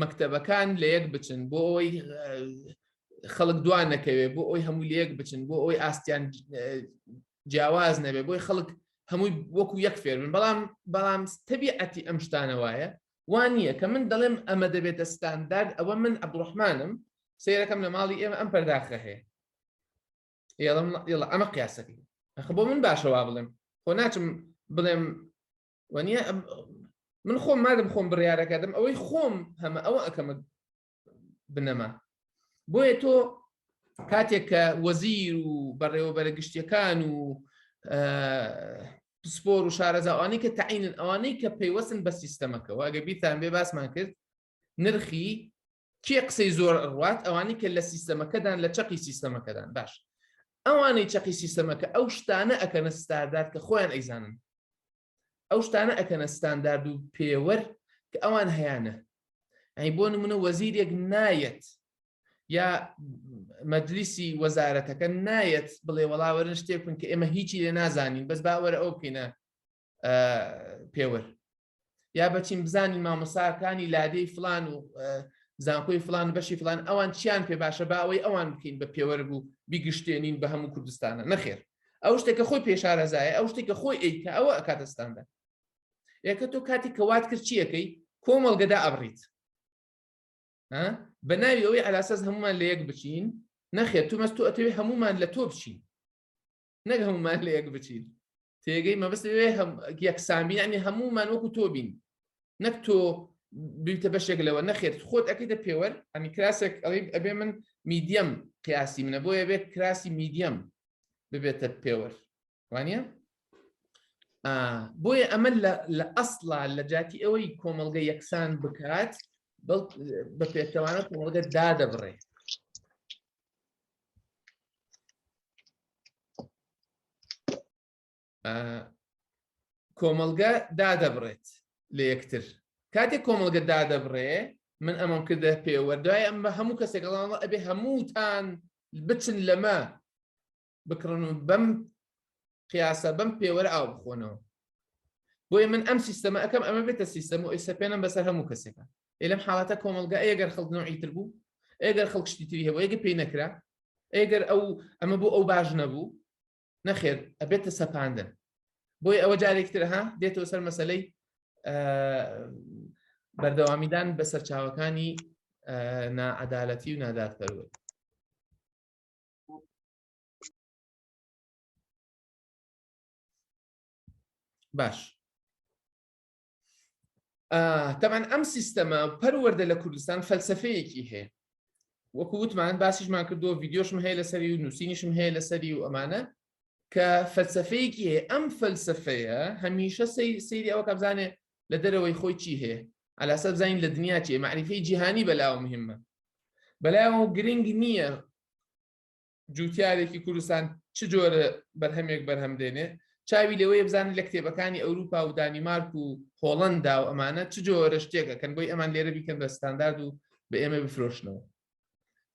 مەکتەبەکان لە یەک بچن بۆ ئەوەی خەڵک دوان نەکەوێت بۆ ئەوی هەموو لە یەک بچن بۆ ئەوی ئاستیان جیاواز نەبێت بۆی خەڵک هەمووی وەکو یەک فێر من بەڵام بەڵام تەبیعەتی ئەم شتانە وایە وان نییە کە من دەڵێم ئەمە دەبێتە ستاندارد ئەوە من عبدڕحمانم سیرەکەم لە ماڵی ئێمە ئەم پەرداخە هەیە ئێڵم ئێڵە ئەمە قیاسەکەی ئەخ بۆ من باشەوا بڵێم خۆ ناچم بڵێم وەنیە من خۆم مادەم خۆم بڕیارەکەدەم ئەوەی خۆم هەمە ئەوە ئەەکەمە بنەما بۆیە تۆ کاتێک کە وەزیر و بەڕێوەبەرە گشتیەکان و پسپۆر و شارەزاوانی کە تعینن ئەوانەی کە پەیوەستن بە سیستەمەکەەوە ئەگە بیتان بێ باسمان کرد نرخی کێ قسەی زۆر ڕوات ئەوانی کە لە سیستەمەکەدان لە چەقی سیستەمەکەدان باش ئەوانەی چەقی سیستەمەکە ئەو شتانە ئەکەنە ستاردار کە خۆیان ئەیزانن ئەو شتانە ئەکەنە ستاندارد و پێوەر کە ئەوان هەیانە ئەی بۆ نمونە وەزیرێک نایەت یا مەجلیسی وەزارەتەکە نایەت بڵێ وەڵاوەرن شتێکن کە ئێمە هیچی لێ نازانین بەس باوەرە ئەو بکەینە پێوەر یا بەچین بزانین مامۆساکانی لادێی فلان و زانکۆی فلان بەشی فلان ئەوان چیان پێ باشە با ئەوەی ئەوان بکەین بە پێوەرگ و بیگشتێنین بە هەموو کوردستانە نەخێر ئەو شتێکە خۆی پێشارەزایە ئەو شتێکە خۆی ئەیکە ئەوە ئەکاتستاندا یەکە تۆ کاتی کەوات کرد چیەکەی کۆمەڵگەدا ئەبڕیت بە ناوی ئەوەی ئەلاسەز هەمومان لە یەک بچین نەخێت تو مەست تو ئەتەوێت هەمومان لە تۆ بچین نەک هەمومان لە یەک بچین تێگەی مەبست لەوێ یەکسامی ینی هەمومان وەکو تۆ بین نەک تۆ بیتە بەشێک لەوە نەخێت خۆت ئەەکەیتە پێوەر ئەمی کراسێک ئەڵی ئەبێ من میدیەم قیاسی منە بۆیە بێت کراسی میدیەم ببێتە پێوەر وانە بۆیە ئەمە لە ئەسڵا لە جاتی ئەوەی کۆمەلگە یەکسان بکات بە پێچەوانە کۆمەلگە دادەبڕێ کۆمەلگە دادەبڕێت لە یەکتر کاتێک کۆمەلگە دادەبڕێ من ئەمەم کردە پێوەدای ئەم بە هەموو کەسێکڵان ئەبێ هەمووتان بچن لەمە بکڕن و بەم قیاسە بەم پێوەرە ئاو بخۆنەوە بۆیە من ئەم سیستەمە ئەەکەم ئەمە بێتە سیستەم و ئیسەپێنم بەسەر هەموو کەسێکە لەم حاڵاتە کۆمەلگا ئەگەر خەڵکنەوە ئیتر بوو ئەگەر خەڵکشتی تری هەبوو ئەگە پێی نەکرا ئەگەر ئەو ئەمە بۆ ئەو باش نەبوو نەخێر ئەبێتە سەپاندن بۆی ئەوە جارێکتر ها دێتەوە سەر مەسلەی بەردەوامیدان بە سەرچاوەکانی ناعادالەتی و نادادپەروە باش تەمان ئەم سیستەمە پەروەەردە لە کوردستان فەلسفەیەکی هەیە وەکو وتمان باسیشمان کردو ڤیددیۆشم هەیە لەسەری و نووسینیشم هەیە لەسەری و ئەمانە کە فەلسفەیەکی هەیە ئەم فەلسفەیە هەمیشە سەیری ئەوە کەبزانێ لە دەرەوەی خۆی چی هەیە ئالاسە بزانین لە دنیا چێ معریفی جیهانی بەلاوە مهمە بەلایەوە گرنگ نییە جوتیارێکی کوردستان چ جۆرە بەرهەمێک بەرهەم دێنێ چاوی لەوەیە بزانانی لە کتێبەکانی ئەوروپا و دانیمارک و هۆڵندا و ئەمانە چ جۆرە شتێکەکەن بۆی ئەمان لێرە بیکەن بە ستاندارد و بە ئێمە بفرۆشنەوە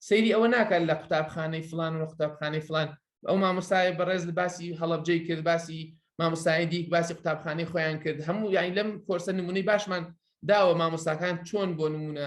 سەیری ئەوە ناکات لە قوتابخانەی فلان و قوتابخانەی فلان ئەو مامۆستای بەڕێز لە باسی هەڵبجەی کرد باسی مامۆستای دیک باسی قوتابخانەی خۆیان کرد هەموو یانی لەم کۆرسە نمونەی باشمان داوە مامۆستاکان چۆن بۆ نمونە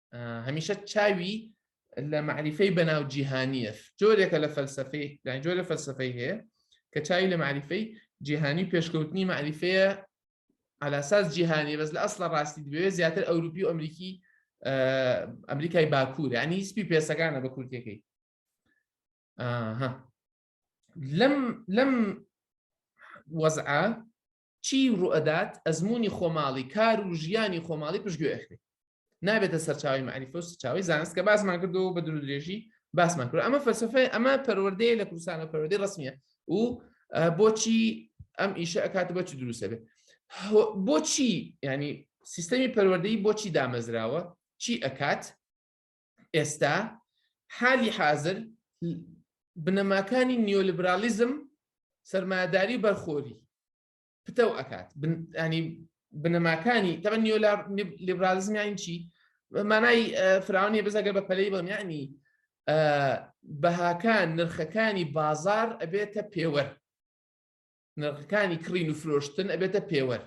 هەمیشە چاوی لە معریفەی بەناو جیهانیە جۆرێکە لە فەلسفەی جۆرە فەلسفەی هەیە کە چاوی لە معریفەی جیهانی پێشکەوتنی معریفەیە علاساس جیهانی بەس لە ئەسڵە ڕاستی دەبێ زیاتر ئەوروپی و ئەمریکی ئەمریکای باکوور ینی هیچپی پێسەکانە بە کورتەکەی لەم لەم وەزعە چی روئەدات ئەزموونی خۆماڵی کار و ژیانی خۆماڵی پشتگوێ ئەخرێ نابێتە سەرچاوی مەعریفە و سەرچاوی زانست کە باسمان کردەوە بە درودرێژی باسمان کرد ئەمە فەلسفەیە ئەمە پەروەردەیە لە کوردستان و پەروەردەی ڕسمیە و بۆچی ئەم ئیشە ئەکات بەچی دروستە بێت بۆچی ینی سیستەمی پەروەردەی بۆچی دامەزراوە چی ئەکات ئێستا حالی حازر بنەماکانی نیۆلیبرالیزم سەرمایەداری بەرخۆری پتەو ئەکات ینی بنەماکانی تەبە نیۆ لیبرالیزمیان چی مانای فراونی بزەگە بە پەلەی بەمیانی بەهاکان نرخەکانی بازار ئەبێتە پێوەر نرخەکانی کڕین و فرۆشتن ئەبێتە پێوەر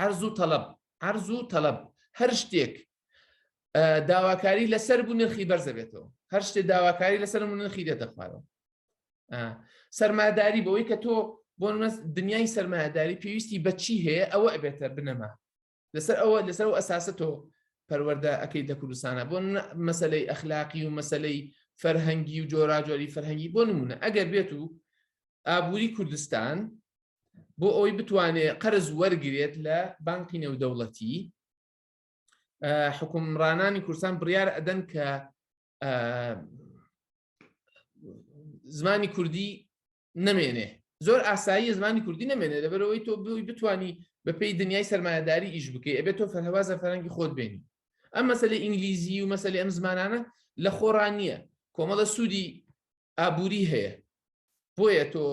عەرز و تەڵەب عەرز و تەڵەب هەر شتێک داواکاری لەسەر بوو نرخی بەرزە بێتەوە هەر شتێ داواکاری لەسەر من نرخی دێتە خوارەوە سەرماداری بەوەی کە تۆ بۆ دنیای سەرمایهداری پێویستی بەچی هەیە ئەوە ئەبێتە بنەما لەسەر ئەوە لەسەر و ئەساسە تۆ پەروەەردە ئەەکەی لە کوردستانە بۆ مەسلەی ئەخلاقی و مەسلەی فەرهەنگی و جۆراجۆری فەرهەنگی بۆ نمونە ئەگەر بێت و ئابووری کوردستان بۆ ئەوەی بتوانێت قەرز وەرگێت لە بانکی نێودەوڵەتی حکومڕانانی کوردستان بڕیار ئەدەن کە زمانی کوردی نەمێنێ زۆر ئاسایی زمانی کوردی نەمێنێ لەبەرەوەی تۆ بووی بتانی بەپی دنیای سەرمایهداری ئیش بکەی ئەبێت تۆ فەرهوازە فەرەنگی خۆت بێنی ئەم مەسلە ئینگلیزی و مەسلی ئەم زمانانە لە خۆڕان نییە کۆمەڵە سوودی ئابوری هەیە بۆیە تۆ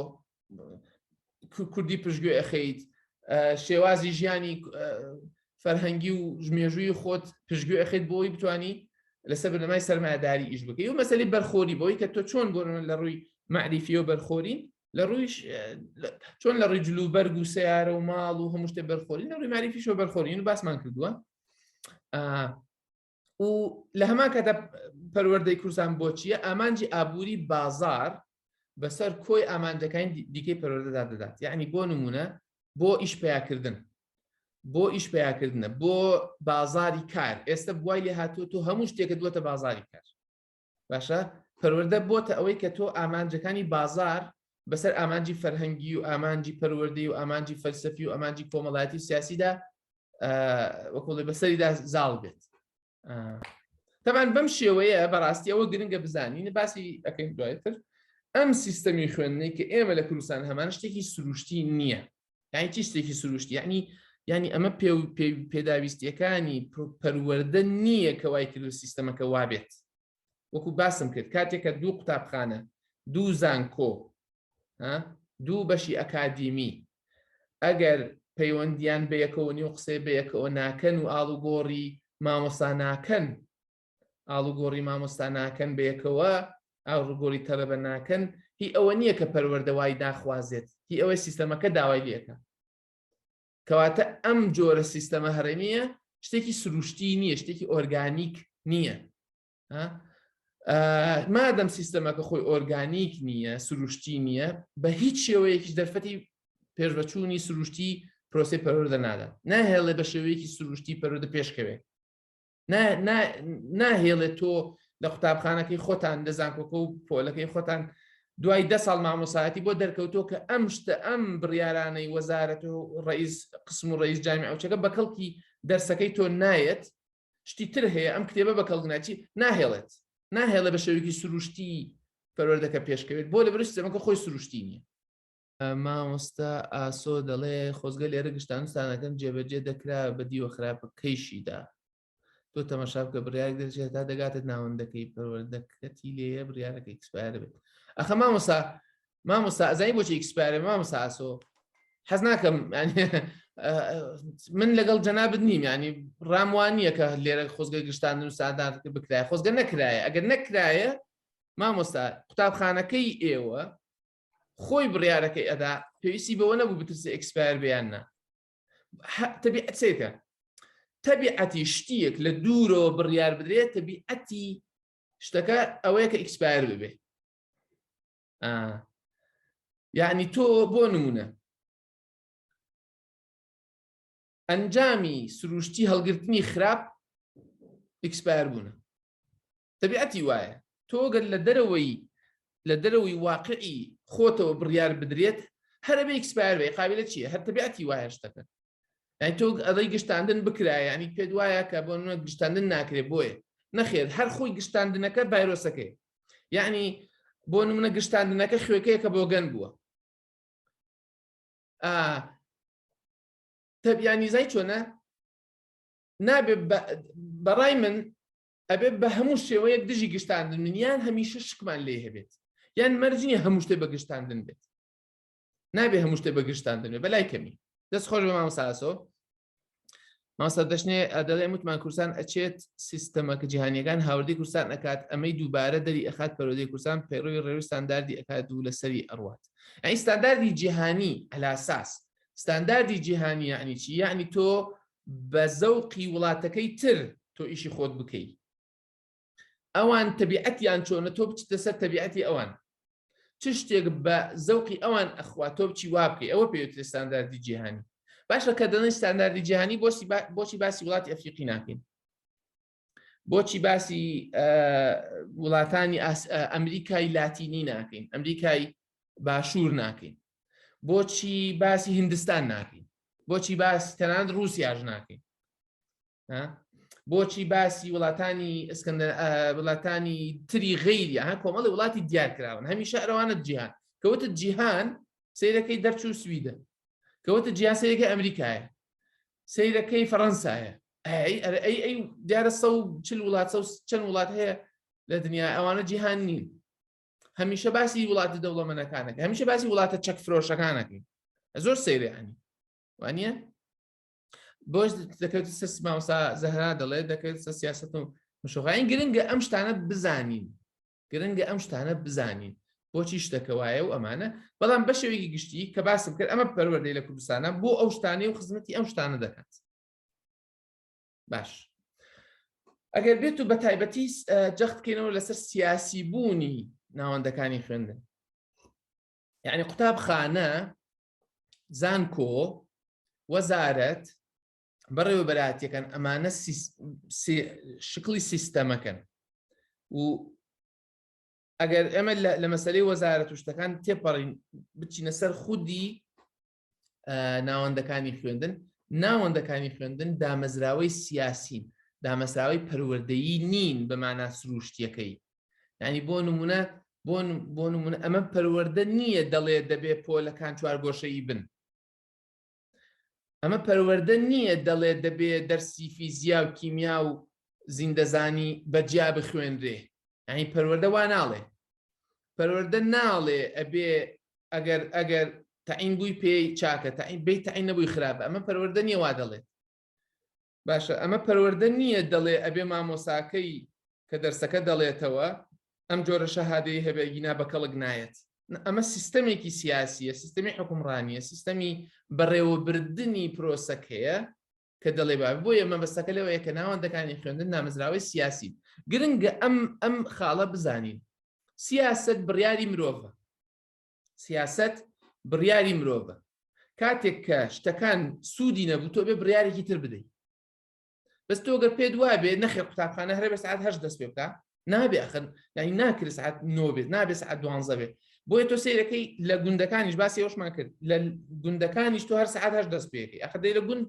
کوردی پشگوێ ئەخەیت شێوازی ژیانی فەرهەنگی و ژمێژووی خۆت پشگوێ ئەخیت بۆی بتانی لەسەر بنەمای سەرمایداری ئیش بکەی و مەسلی بەرخۆری بۆی کە تۆ چۆن بۆ لە ڕووی معریفی و بەرخۆرین لە ڕوویش چۆن لە ڕووی جلو بەرگ و سیارە و ماڵ و هەموو شتێ بەرخۆرین لە ڕووی ماریفیشەوە بەرخۆرین و باسمان کردووە و لە هەمان کاتە پەروەردەی کوردستان بۆچیە ئامانجی ئابووری بازار بەسەر کۆی ئامانجەکانی دیکەی پەروەردەدا دەدات یعنی بۆ نمونە بۆ ئیش پیاکردن بۆ ئیش پیاکردنە بۆ بازاری کار ئێستا بوای لێ هاتوو تۆ هەموو شتێکە دووەتە بازاری کار باشە پەروەردە بۆتە ئەوەی کە تۆ ئامانجەکانی بازار بەسەر ئامانجی فەرهەنگی و ئامانجی پەروەردەی و ئامانجی فەلسەفی و ئامانجی کۆمەڵایەتی و سیاسیدا وەکڵێ بەسەریدا زاڵ بێت تەمان بەم شێوەیە بەڕاستی ئەوە گرنگە بزانین باسی ئەەکەین دوایتر ئەم سیستەمی خوێندنەی کە ئێمە لە کوردستان هەمان شتێکی سروشتی نییە یعنی چی شتێکی سروشتی یعنی یعنی ئەمە پێ و پێداویستیەکانی پەروەەردە نییە کە وای کرد و سیستەمەکە وابێت وەکو باسم کرد کاتێکە دوو قوتابخانە دوو زانکۆ دوو بەشی ئەکادیمی ئەگەر پەیوەندیان بە یەکەوە نیو قسەی بە یەکەوە ناکەن و ئاڵوگۆڕی مامۆسا ناکەن ئاڵوگۆڕی مامۆستا ناکەن بەیەکەوە ئاڕوگۆری تەلەبە ناکەن هی ئەوە نییە کە پەروەردە وای ناخوازێت هی ئەوەی سیستەمەکە داوای لەکە کەواتە ئەم جۆرە سیستەمە هەرێمیە شتێکی سروشتی نییە شتێکی ئۆرگانیک نییە مادەم سیستەمەکە خۆی ئۆرگانیک نییە سروشتی نییە بە هیچ شێوەیەکی دەرفەتی پێشبەچوونی سروشتی پرۆسی پەرۆردە نادە ناهێڵێ بە شێوەیەکی سروشتی پەرۆدە پێشکەوێت ناهێڵێت تۆ لە قوتابخانەکەی خۆتان لە زانکۆکە و پۆلەکەی خۆتان دوای ده ساڵ مامۆسایەتی بۆ دەرکەوتۆ کە ئەم شتە ئەم بڕیارانەی وەزارەت و ڕئیس قسم و ڕئیس جامی ئەوچەکە بە کەڵکی دەرسەکەی تۆ نایەت شتی تر هەیە ئەم کتێبە بە کەڵگناچی ناهێڵێت ناهێڵە بە شێوێکی سروشتی پەروەردەکە پێشکەوێت بۆ لە برشت زەمەکە خۆی سروشتی نییە مامۆستا ئاسۆ دەڵێ خۆزگە لێرە گشتانستانەکەم جێبەجێ دەکرا بە دیوە خراپەکەیشیدا تۆ تەمەشا بکە بڕیار دەرچێت تا دەگاتە ناوەندەکەی پەروەردەکەتی لێە بریارەکە ئیکسپایرە بێت ئەخە مامۆسا مامۆستا ئەزای بۆچی ئیکسپایرە مامۆستا ئاسۆ حەز ناکەم من لەگەڵ جەنابت نیم ینی ڕام وان نییە کە لێرە خۆزگە گشتان و سادان بکرای خۆزگە نەکرایە ئەگەر نەکرایە مامۆستا قوتابخانەکەی ئێوە خۆی بڕیارەکەی ئەدا پێویستی بەوە نەبوو بترسە ئەکسپایر بیان نا تەبیعەتێکە تەبیعەتی شتیەک لە دوورەوە بڕیار بدرێت تەبیعەتی شتەکە ئەوەیە کە ئیکسپایر ببێ یعنی تۆ بۆ نمونە ئەنجامی سروشتی هەڵگرتنی خراپ ئیکسپایر بوونە تەبیعەتی وایە تۆ گەر لە دەرەوەی لە دەرەوەی واقعی خۆتەوە بڕیار بدرێت هەر ئەبێ ئیکسپایر بێ قابلە چییە هەر تەبیعەتی وایە شتەکە یعنی تۆ ئەڵەی گشتاندن بکرایە یعنی پێت وایە کە بۆ نمونە گشتاندن ناکرێت بۆیە نەخێر هەر خۆی گشتاندنەکە ڤایرۆسەکەی یعنی بۆ نمونە گشتاندنەکە خوێکەیەکە بۆ گەن بووە تەبیانیزای چۆنە نابێ بەڕای من ئەبێت بە هەموو شێوەیەک دژی گشتاندن بن یان هەمیشە شکمان لێ هەبێت یان مەرج نییە هەموو شتێ بە گشتاندن بێت نابێ هەموو شتێ بە گشتاندن بێ بەلای کەمی دەست خۆش بە مامساسۆ ماسا دەشنێ دەڵێ وتمان کورسان ئەچێت سیستەمەکە جیهانیەکان هاوردی کورسان ئەکات ئەمەی دووبارە دەری ئەخات پەرۆدەی کورسان پەیڕوی ڕێوی ستانداردی ئەکات دوو لەسەری ئەڕوات ئەی ستانداردی جیهانی ئەلاساس ستانداردی جیهانی یعنی چی یعنی تۆ بە زەوقی وڵاتەکەی تر تۆ ئیشی خۆت بکەی ئەوان تەبیعەتیان چۆنە تۆ بچتە سەر تەبیعەتی ئەوان چ شتێک بە زەوقی ئەوان ئەخوا تۆ بچی وا بکەی ئەوە پێوترێ ستانداردی جیهانی باشە کە دەڵێن ستانداردی جیهانی بۆسی بۆچی باسی وڵاتی ئەفریقی ناکەین بۆچی باسی وڵاتانی ئەمریکای لاتینی ناکەین ئەمریکای باشوور ناکەین بۆچی باسی هندستان ناکەین بۆچی باس تەنان رووسیاش ناکەین بۆچی باسی وڵاتانی ئەسکەندەر وڵاتانی تری غیری ها کۆمەڵی وڵاتی دیارکراون هەمیشە ئەرەوانە جیهان کەوتە جیهان سیرەکەی دەرچوو سویدە کەوتە جیاسەیەکە ئەمریکایە سەیرەکەی فەڕەنسایە ئەی دیارە سە و چل وڵات سە چەند وڵات هەیە لە دنیا ئەوانە جیهان نین هەمیشە باسی وڵاتە دەوڵەمەنەکانەکە هەمیشە باسی وڵاتە چەک فرۆشەکانەکەی زۆر سەیرانی وانە بۆش دەکەوێت سەر ماوسا زەهرا دەڵێت دەکەوێت سە سیاست و مشوغین گرنگە ئەم شتانە بزانین گرنگە ئەم شتانە بزانین بۆچی شتەکە وایە و ئەمانە بەڵام بەشێوەیەکی گشتی کە باسم کرد ئەمە پەروەردەی لە کوردستانە بۆ ئەو شتانەی و خزمەتی ئەم شتانە دەکات باش ئەگەر بێت و بە تایبەتی جەختکەینەوە لەسەر سیاسی بوونی ناوەندەکانی خوێندن یعنی قوتابخانە زانکۆ وەزارەت بەڕێوەبەراتیەکان ئەمانە شکلی سیستەمەکەن و ئەگەر ئێمە لە مەسلەی وەزارە توشتەکان تێپەڕین بچینە سەر خودی ناوەندەکانی خوێندن ناوەندەکانی خوێندن دامەزراوەی سیاسین دامەسراوی پەروەردەیی نین بە مانا سروشتیەکەی ینی بۆ نمونە بۆ نمونە ئەمە پەروەەردە نییە دەڵێ دەبێ پۆلەکان چوار گۆشەی بن ئەمە پەروەەردە نییە دەڵێ دەبێ دەرسی فیزیا و کیمیا و زیندەزانی بەجیا بخوێنرێ ئەین پەروەەردە وا ناڵێ پەروەەردە ناڵێ ئەبێ ئەگەر ئەگەر تاین بووی پێی چاکە تاین بی تاین نەبووی خراپە ئەمە پەروەەردە نیە وا دەڵێت باشە ئەمە پەروەردە نییە دەڵێ ئەبێ مامۆساکەی کە دەرسەکە دەڵێتەوە ئەم جۆرە شەهادەی هەبێ گینا بە کەڵک نایەت ئەمە سیستەمێکی سیاسیە سیستەمی حکومڕانیە سیستەمی بەڕێوەبردنی پرۆسەکەیە کە دەڵێ با بۆیە مەبەستەکە لەوەیە کە ناوەندەکانی خوێندن نامزراوەی سیاسی گرنگە ئەم ئەم خاڵە بزانین سیاست بڕیاری مرۆڤە سیاسەت بڕیاری مرۆڤە کاتێک کە شتەکان سوودی نەبوو تۆ بێ بڕیارێکی تر بدەیت بەس تۆ گەر پێت وا بێ نەخێ قوتابخانە هەرێ بە سعات هەش دەست پێ بکە نابێ ئەخن یعنی ناکرد سعات نۆ بێت نابێ سعات دوانزە بێت بۆیە تۆ سیرەکەی لە گوندەکانیش باسی ئەوشمان کرد لە گوندەکانیش تۆ هەر سعات هەش دەست پێەکەی ئەخدەی لە گوند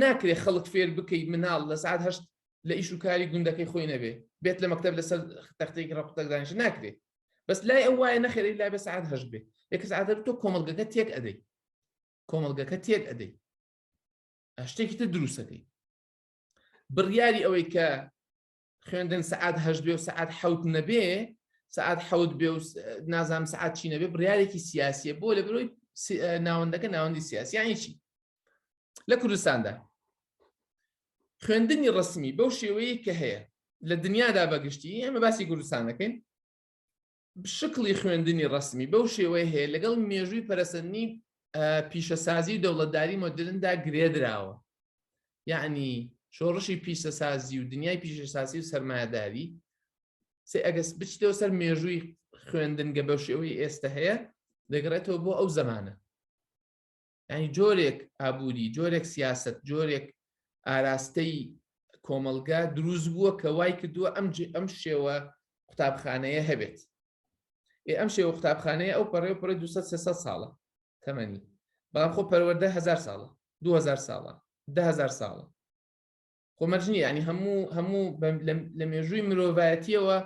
ناکرێ خەڵک فێر بکەی مناڵ لە سعات هەشت لە ئیش و کاری گوندەکەی خۆی نەبێ بێت لە مەکتب لەسەر تەختێکی ڕقتەکدانش ناکرێت بەس لای ئەو وایە نەخێری لای بە سعات هەش بێ یەکە سعاتەر تۆ کۆمەلگەکە تێک ئەدەی کۆمەلگەکە تێک ئەدەی شتێکی تر دروستەکەی بڕیاری ئەوەی کە خوێندن سعات هەش بێ و سعات حوت نەبێ سعات حوت بێ و نازام سعات چی نەبێ بڕارێکی سیاسیە بۆ لە برۆی ناوەندەکە ناوەندی سیاسیانی چی لە کوردستاندا خوێندنی ڕسمی بەو شێوەیە کە هەیە لە دنیادا بەگشتی ئێمە باسی کوردستان دەکەین شکڵی خوێندنی ڕسمی بەو شێوەیە هەیە لەگەڵ مێژووی پەرسەنی پیشەسازی دەوڵەتداری مۆدرندا گرێدراوە یعنی شۆڕشی پیشەسازی و دنیای پیشەسازی و سەرمایهداری سێ ئەگەس بچیتەوە سەر مێژووی خوێندنگە بەو شێوەی ئێستا هەیە دەگەڕێتەوە بۆ ئەو زمانە ینی جۆرێک ئابووری جۆرێک سیاست جۆرێک ئاراستەی کۆمەلگا دروست بووە کە وای کردووە ئەم ئەم شێوە قوتابخانەیە هەبێت ئێ ئەم شێوە قوتابخانەیە ئەو پەڕێ پڕێ 200 ساڵە تەمەنی بەڵام خۆ پەروەەردە هزار ساڵە 2000 ساڵە دههزار ساڵە خۆمەرجنی ینی هەموو هەموو لە مێژووی مرۆڤایەتیەوە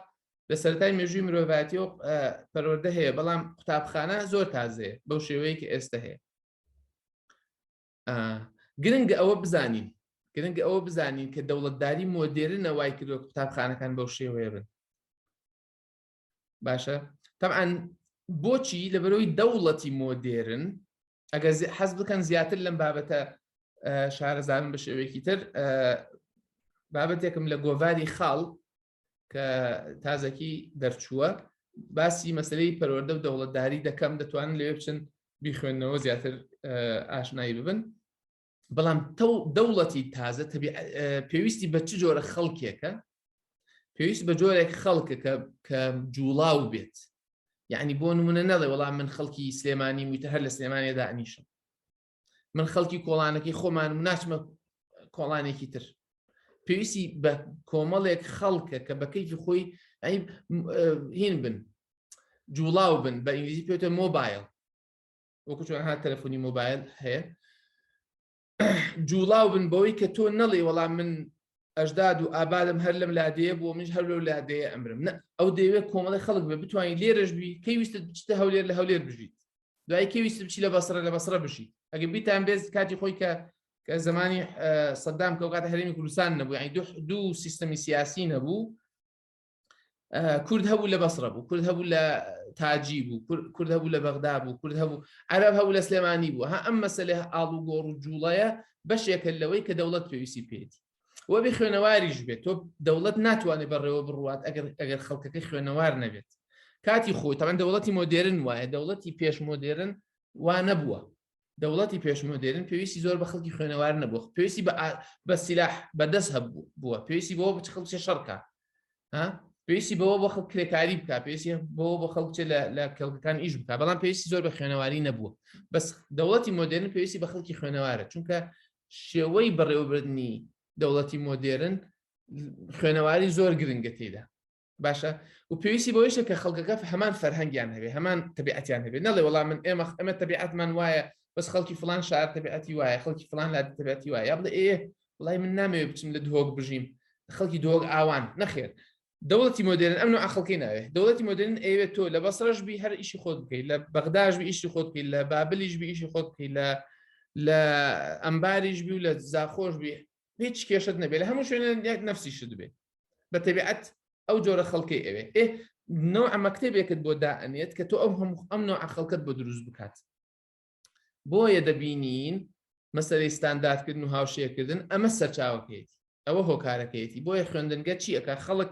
لە سەرای مێژووی مرۆڤاتیەوە پەروەەردە هەیە بەڵام قوتابخانە زۆر تازێ بەو شێوەیەکە ئێستا هەیە گرنگ ئەوە بزانین گرنگ ئەوە بزانین کە دەوڵەتداری مۆدێرنە وای کردو قوتابخانەکان بەو شێوەیە بن باشە تەعاان بۆچی لەبەرەوەی دەوڵەتی مۆدێرن ئەگەر حەز بکەن زیاتر لەم بابەتە شارەزانم بە شێوەیەکی تر بابەتێکم لە گۆڤاری خاڵ کە تازەکی دەرچووە باسی مەسلەی پەروەەردە و دەوڵەتداری دەکەم دەتوانن لێ بچن بیخوێندنەوە زیاتر ئاشنایی ببن بەڵام تەو دەوڵەتی تازە پێویستی بە چ جۆرە خەڵکێکە پێویست بە جۆرێک خەڵکە کە جوڵاو بێت یعنی بۆ نمونە نەڵێ وەڵام من خەڵکی سلێمانی وتە هەر لە سلێمانێدا ئەنیشم من خەڵکی کۆڵانەکەی خۆمان و ناچمە کۆڵانێکی تر پێویستی بە کۆمەڵێک خەڵکە کە بەکەیکی خۆی هین بن جوڵاو بن بە ئینگلیزی پێێتە مۆبایل وەکو چۆن ها تەلەفۆنی مۆبایل هەیە جوڵاو بن بەوەی کە تۆ نەڵێ وەڵام من ئەشداد و ئابادم هەر لەم لادەیە بۆ منش هەر لەو لادەیە ئەمرم نە ئەو دەیەوێت کۆمەڵی خەڵک بێ بتوانین لێرەش بی کەی ویستت بچتە هەولێر لە هەولێر بژیت دوای کەی ویست بچی لە بەسرە لە بەسرە بشیت ئەگە بیتان بێز کاتی خۆی کە کە زمانی سەدام کەوکاتە هەرێمی کوردستان نەبوو یعنی دوو سیستەمی سیاسی نەبوو کورد هەبوو لە بەسرە بوو کورد هەبوو لە تاجی بوو کورد هەبوو لە بەغدا بوو کورد هەبوو عەرب هەبوو لە سلێمانی بوو ها ئەم مەسلێ ئاڵوگۆڕ و جوڵەیە بەشێکە لەوەی کە دەوڵەت پێویستی پێێتی وە بێ خوێنەواریش بێت تۆ دەوڵەت ناتوانێت بەڕێوە بڕوات ئەگەر ئەگەر خەڵکەکە خوێنەوار نەبێت کاتی خۆی تەمەەن دەوڵەتی مۆدێرن وایە دەوڵەتی پێش مۆدێرن وا نەبووە دەوڵەتی پێشمۆدێرن پێویستی زۆر بە خەڵکی خوێنەوار نەبوو پێویستی بە سیلاح بەدەست هەبوو بووە پێویستی بۆ بچ خەڵکی شەڕکە پێویستی بەوە بۆ خەڵ کرێکاری بکە پێویستی بۆ بۆ خەڵکچێ لە کەڵکەکان ئیش بکە بەڵام پێویستی زۆر بە خوێنەواری نەبووە بەس دەوڵەتی مۆدرن پێویستی بە خەڵکی خوێنەوارە چونکە شێوەی بەڕێوەبردننی دەوڵەتی مۆدێرن خوێنەواری زۆر گرنگە تێدا باشە و پێویستی بۆیشە کە خەڵکەکە هەمان فەرهەنگیان هەبێ هەمان تەبیعەتیان هەبێ نەڵێ وەڵام من ئێمە ئەمە تەبیعەتمان وایە بەس خەڵکی فلان شار تەبیعەتی وایە خەڵکی فلان لا تەبیعەتی وایە بڵێ ئێ وڵی من نامەوێ بچم لە دهۆک بژیم خەڵکی دۆک ئاوان نەخێر دەوڵەتی مۆدرن ئەم ئەخڵکی ناوێ دەوڵەتی مۆدرن ئەوێت تۆ لە بەسەرش بی هەر ئیشی خۆت بکەی لە بەغداش ئیشی خۆت بکەی لە بابلیش بی ئیشی خۆت بکەی لە لە ئەمباریش بی و لە زاخۆش بی هیچ کێشت نەبێت لە هەموو شوێنە یەک نفسی شت بێت بە تەبیعەت ئەو جۆرە خەڵکەی ئەوێ ئێ نەوە ئەمە کتێبێکت بۆ دائەنێت کە تۆ ئەو هەموو ئەم نوع خەڵکت بۆ دروست بکات بۆیە دەبینین مەسەری ستانداردکردن و هاوشێکردن ئەمە سەرچاوەکەیەتی ئەوە هۆکارەکەیەتی بۆیە خوێندنگە چی ئەک خەڵک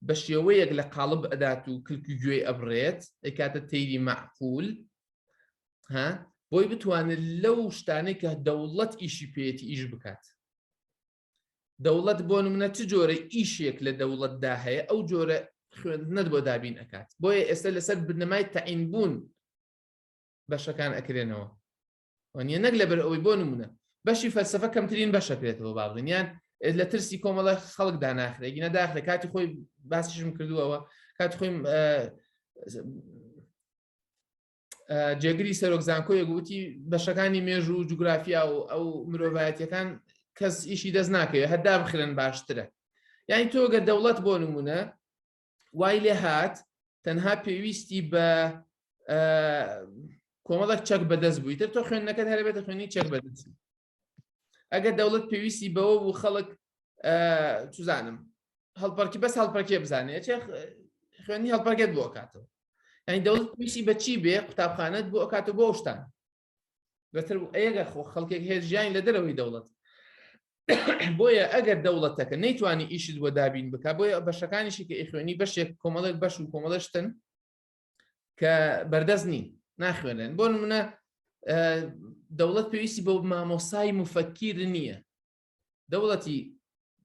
بە شێوەیەک لە قاڵب ئەدات و کلکی گوێی ئەبرێت ئەکاتە تەیری معقول ها بۆی بتوانێت لەو شتانەی کە دەوڵەت ئیشی پێێتی ئیش بکات دەوڵەت بۆ منە چ جۆرە ئیشێک لە دەوڵەتدا هەیە ئەو جۆرە خوێندنت بۆ دابین ئەکات بۆیە ئێستا لەسەر بنەمای تەعین بوون بەشەکان ئەکرێنەوە وانە نەک لەبەر ئەوەی بۆ نمونە بەشی فەلسفە کەمترین بەشەکرێتەوە بابڵین یان لە ترسی کۆمەڵە خەڵک داناخرێگی نەداخرێ کاتی خۆی باسیشم کردووەوە کات خۆی جێگری سەرۆک زانکۆیە گوتی بەشەکانی مێژوو و جوگرافیا و ئەو مرۆڤایەتەکان کەس ئیشی دەست ناکەوێت هەدا بخرن باشترە یعنی تۆگە دەوڵەت بۆ نمونە وای لێ هاات تەنها پێویستی بە کۆمەڵک چەک بەدەست بوویتر تۆ خوێندنەکەت هەربێتە خوێنی چەک بەدەست ئەگەر دەوڵەت پێویستی بەوە بوو خەڵک توزانم هەڵپەرکی بەس هەڵپەرکێ بزانێت خوێنی هەڵپەرگێت بۆ کاتەوە ئەنی دەوڵەت پێویستی بەچی بێ قوتابخانەت بۆ ئەکاتە بۆ شتان بەتر ئەگە خۆ خەڵکێک هێژیان لە دەرەوەی دەوڵەت بۆیە ئەگەر دەوڵەتەکە نەیتوانی ئیشت بۆ دابین بک بۆیە بەشەکانیشی کە ئیخوێنی بەشێک کۆمەڵێک بەش و کۆمەڵشتن کە بەردەست نین ناخوێنن بۆ نمونە دەوڵەت پێویستی بۆ مامۆسای مفەکیر نییە دەوڵەتی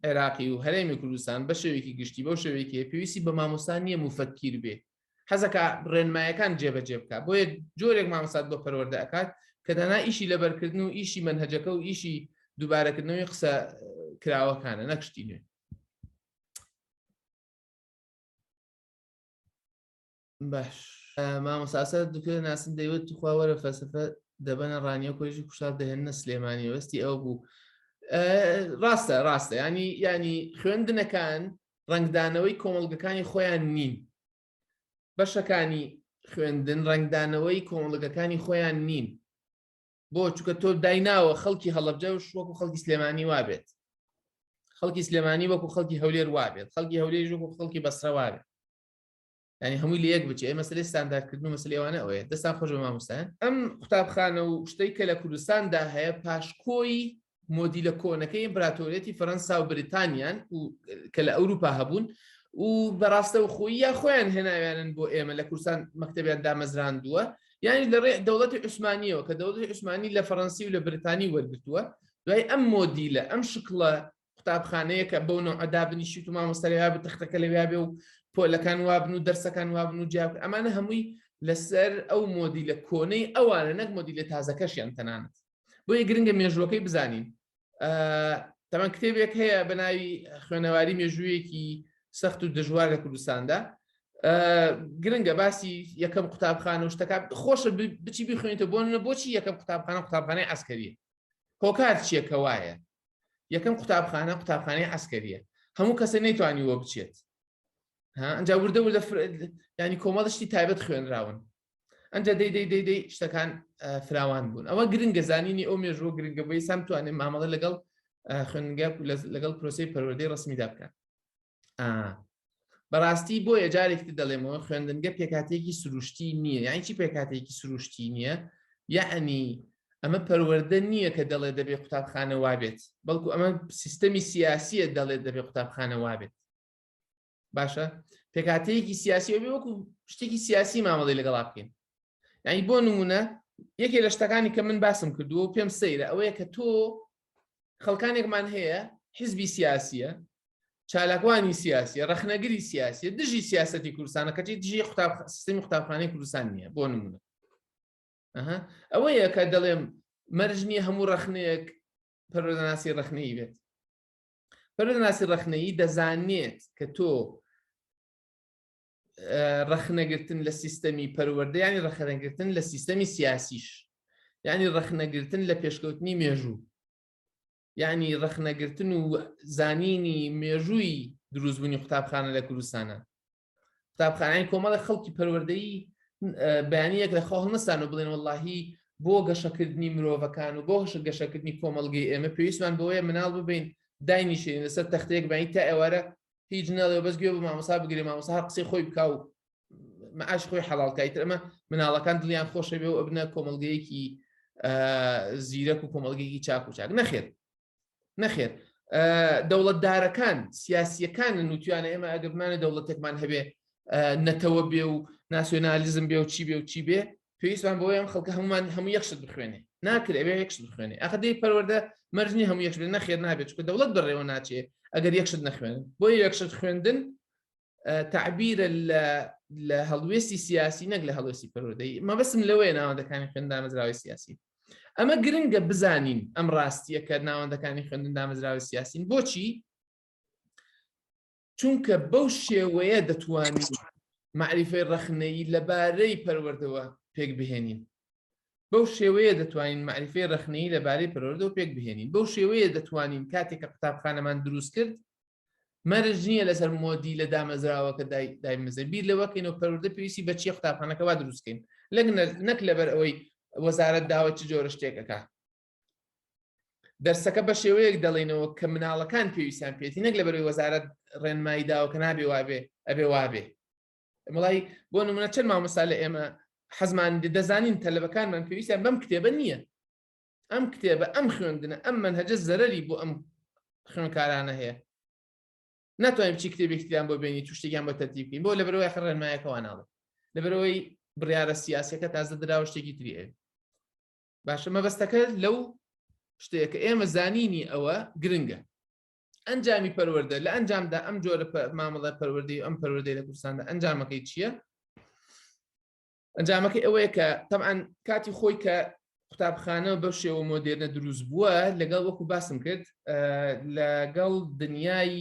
عێراقی و هەرێمی کوردستان بە شێوێکی گشتی بەو شێوێکی پێویستی بە مامۆستا نییە مفەکیر بێ حەزەکە ڕێنمایەکان جێبەجێ بکە بۆیە جۆرێک مامۆسات بۆ پەروەەردە ئەکات کە دانا ئیشی لەبەرکردن و ئیشی منهجەکە و ئیشی دووبارەکردنەوەی قسە کراوەکانە نەکشتی نوێ باش مامۆساسە دکتۆر ناسن دەیوت توخوا وەرە فەسەفە دەبەنە ڕانیە کۆژی کوشار دەهێنە سلێمانی وەستی ئەو بوو ڕاستە ڕاستە ینی ینی خوێندنەکان ڕنگدانەوەی کۆمەڵگەکانی خۆیان نین بەشەکانی خوێندن ڕنگدانەوەی کۆمەڵگەکانی خۆیان نین بۆ چکە تۆ دایناوە خەڵکی هەڵبجە و شوەکو خەڵکی سلێمانی وابێت خەڵکی سلێمانی وەکو خەڵکی هەولێر وابێت خەڵکی هەولێر وەکو خەڵکی بەسرەوارێت ینی هەمووی لە یەک بچێ ئەمە سلێ ستانداردکردن و مەسل ئێوانە ئەوەیە دەستان خۆش بە ماموسان ئەم قوتابخانە و شتەی کە لە کوردستاندا هەیە پاشکۆی مۆدیلە کۆنەکەی ئیمپراتۆریەتی فەەنسا و بریتانیان و کە لە ئەوروپا هەبوون و بەڕاستە و خۆی یا خۆیان هێناویانن بۆ ئێمە لە کورسان مەکتتەبیان دامەزراندووە یانی لە ڕێ دەوڵەتی عوسمانیەوە کە دەوڵەتی عوسمانی لە فەڕەنسی و لە بریتانی وەرگتووە دوای ئەم مۆدیلە ئەم شکڵە قوتابخانەیەکە بەو نەوعە دابنیشیت و مامۆستا لەوێ بێ تەختەکە لەوێ بێ و پۆلەکان وابن و دەرسەکان وابن و جیاب ئەمانە هەمووی لەسەر ئەو مۆدی لە کۆنەی ئەوانە نەک مۆدی لە تازەکەشیان تەنانەت بۆیە گرنگە مێژووەکەی بزانین تەمان کتێبێک هەیە بە ناوی خوێنەواری مێژوویەکی سەخت و دژوار لە کوردستاندا گرنگە باسی یەکەم قوتابخانە و شتەکە خۆشە بچی بخوێنێتە بۆ نە بۆچی یەکەم قوتابخانە قوتابخانەی ئەسکەریە هۆکار چیەکە وایە یەکەم قوتابخانە قوتابخانەی عسکەریە هەموو کەسە نەیتوانیوە بچێت ئەجا وردە وردە ینی کۆمەڵشتی تایبەت خوێنراون ئەجا دەی دەی دەی دەی شتەکان فراوان بوون ئەوە گرنگە زانینی ئەو مێژوە گرنگە بەی سام توانێت مامەڵە لەگەڵ خوێنگە لەگەڵ پرۆسی پەروەدەی ڕسمیدا بکەن بەڕاستی بۆیە جارێکتر دەڵێمەوە خوێندنگە پێکاتێکی سروشتی نییە یان چی پێکاتێکی سروشتی نییە یعنی ئەمە پەروەەردە نییە کە دەڵێ دەبێ قوتابخانە وابێت بەڵکو ئەمە سیستەمی سیاسیە دەڵێت دەبێ قوتابخانە وابێت باشە پێکاتەیەکی سیاسی ئەوێ وەکو شتێکی سیاسی مامەڵی لەگەڵا بکەین یعنی بۆ نمونە یەکێ لە شتەکانی کە من باسم کردووە پێم سەیرە ئەوەیە کە تۆ خەڵکانێکمان هەیە حزبی سیاسیە چالاکوانی سیاسی ڕخنەگری سیاسی دژی سیاستی کوردستانە کەچی دژی قوتاب سیستمی قوتابخانەی کوردستان نییە بۆ نمونە ئەوەیە کە دەڵێم مەرجنی هەموو ڕخنەیەک پەرۆدەناسی ڕخنەی بێت پەرۆدەناسی ڕخنەیی دەزانێت کە تۆ ڕەخنەگرتن لە سیستەمی پەروەردە ینی ڕەخەنەگرتن لە سیستەمی سیاسیش ینی ڕەخنەگرتن لە پێشکەوتنی مێژوو یعنی ڕەخنەگرتن و زانینی مێژووی دروستبوونی قوتابخانە لە کوردستانە قوتابخانەی کۆمەڵە خەڵکی پەروەردەی بەیانیەک لە خۆ هەڵنەسان و بڵێن واللهی بۆ گەشەکردنی مرۆڤەکان و بۆ هەشە گەشەکردنی کۆمەلگەی ئێمە پێویستمان بۆیە مناڵ ببین داینیشێن لەسەر تەختەیەک بەین تا ئێوارە هیچ ناڵێ بەس گوێ بە مامۆسا بگرێ مامۆسا هەر قسەی خۆی بکاو معاش خۆی حەڵالکای ترمە مناڵەکان دڵیان خۆشە بێ و ئەبنە کۆمەلگەیەکی زیرەک و کۆمەلگەیەکی چاک و چاک نەخێت نەخێت دەوڵەتدارەکان سیاسیەکان لە نووتیانە ئێمە ئەگەرمانە دەوڵەتێکمان هەبێ نەتەوە بێ و ناسیۆنالیزم بێ و چی بێ و چی بێ پێویستمان بۆ ئەم خەڵکە هەمومان هەموو یەخشت بخوێنێ ناکرێ ئەوێ یەکشت بخوێنێ ئەخ دەی پەروەەردە مەرجنی هەموو یەکشت نەخێر نابێت چکە دەوڵەت بەڕێوە ناچێ ئەگەر یەکشت نەخوێنن بۆ یەکشت خوێندن تعبیرە لە هەڵوێستی سیاسی نەک لە هەڵوێستی پەرۆدەی مەبەسم لەوەیە ناوەندەکانی خوێندامەزراوی سیاسی ئەمە گرنگە بزانین ئەم ڕاستیە کە ناوەندەکانی خوێندن دامەزراوی سیاسین بۆچی چونکە بەو شێوەیە دەتوانین معریفەی ڕەخنەیی لەبارەی پەروەردەوە پێک بهێنین بەو شێوەیە دەتوانین معریفەی ڕەخنەیی لەبارەی پەروەردەوە پێک بهێنین بەو شێوەیە دەتوانین کاتێک کە قوتابخانەمان دروست کرد مەرج نییە لەسەر مۆدی لە دامەزراوەکە دایمەزە بیر لەوەکەینەوە پەروەردە پێویستی بە چی قوتابخانەکەوا دروستکەین لەگ نەک لەبەر ئەوەی وەزارت داوای چ جۆرە شتێکەکە دەرسەکە بە شێوەیەک دەڵێنەوە کە مناڵەکان پێویستیان پێێتی نەک لە بەروی وەزارت ڕێنمایی داوە کە نابێ وابێ ئەبێ وابێ مڵی بۆ نمونە چەند مامەسا لە ئێمە حەزمان دەزانین تەلبەکانمان پێویستیان بەم کتێبە نییە ئەم کتێبە ئەم خوێندنە ئەم من هەجە زەرری بۆ ئەم خوێنکارانە هەیە ناتوانین بچی کتێبێکتیان بۆ بینی توشتێکیان بۆ تەتی بکەین بۆ لە بەرەوەی خڕێنمایەکەوانناڵێ لە بەرەوەی بڕیاە سیاسەکە تازە دراوە شتێکی تریێ باشە مەبەستەکە لەو شتەیە کە ئێمە زانینی ئەوە گرنگە ئەنجامی پەروەەردە لە ئەنجامدا ئەم جۆرە مامەڵە پەروەردەی ئەم پەروەردەی لە کوردستاندا ئەنجامەکەی چییە؟ ئەنجامەکەی ئەوەیە کە تەعاان کاتی خۆی کە قوتابخانە بە شێوە مۆدێرنە دروست بووە لەگەڵ وەکو باسم کرد لەگەڵ دنیای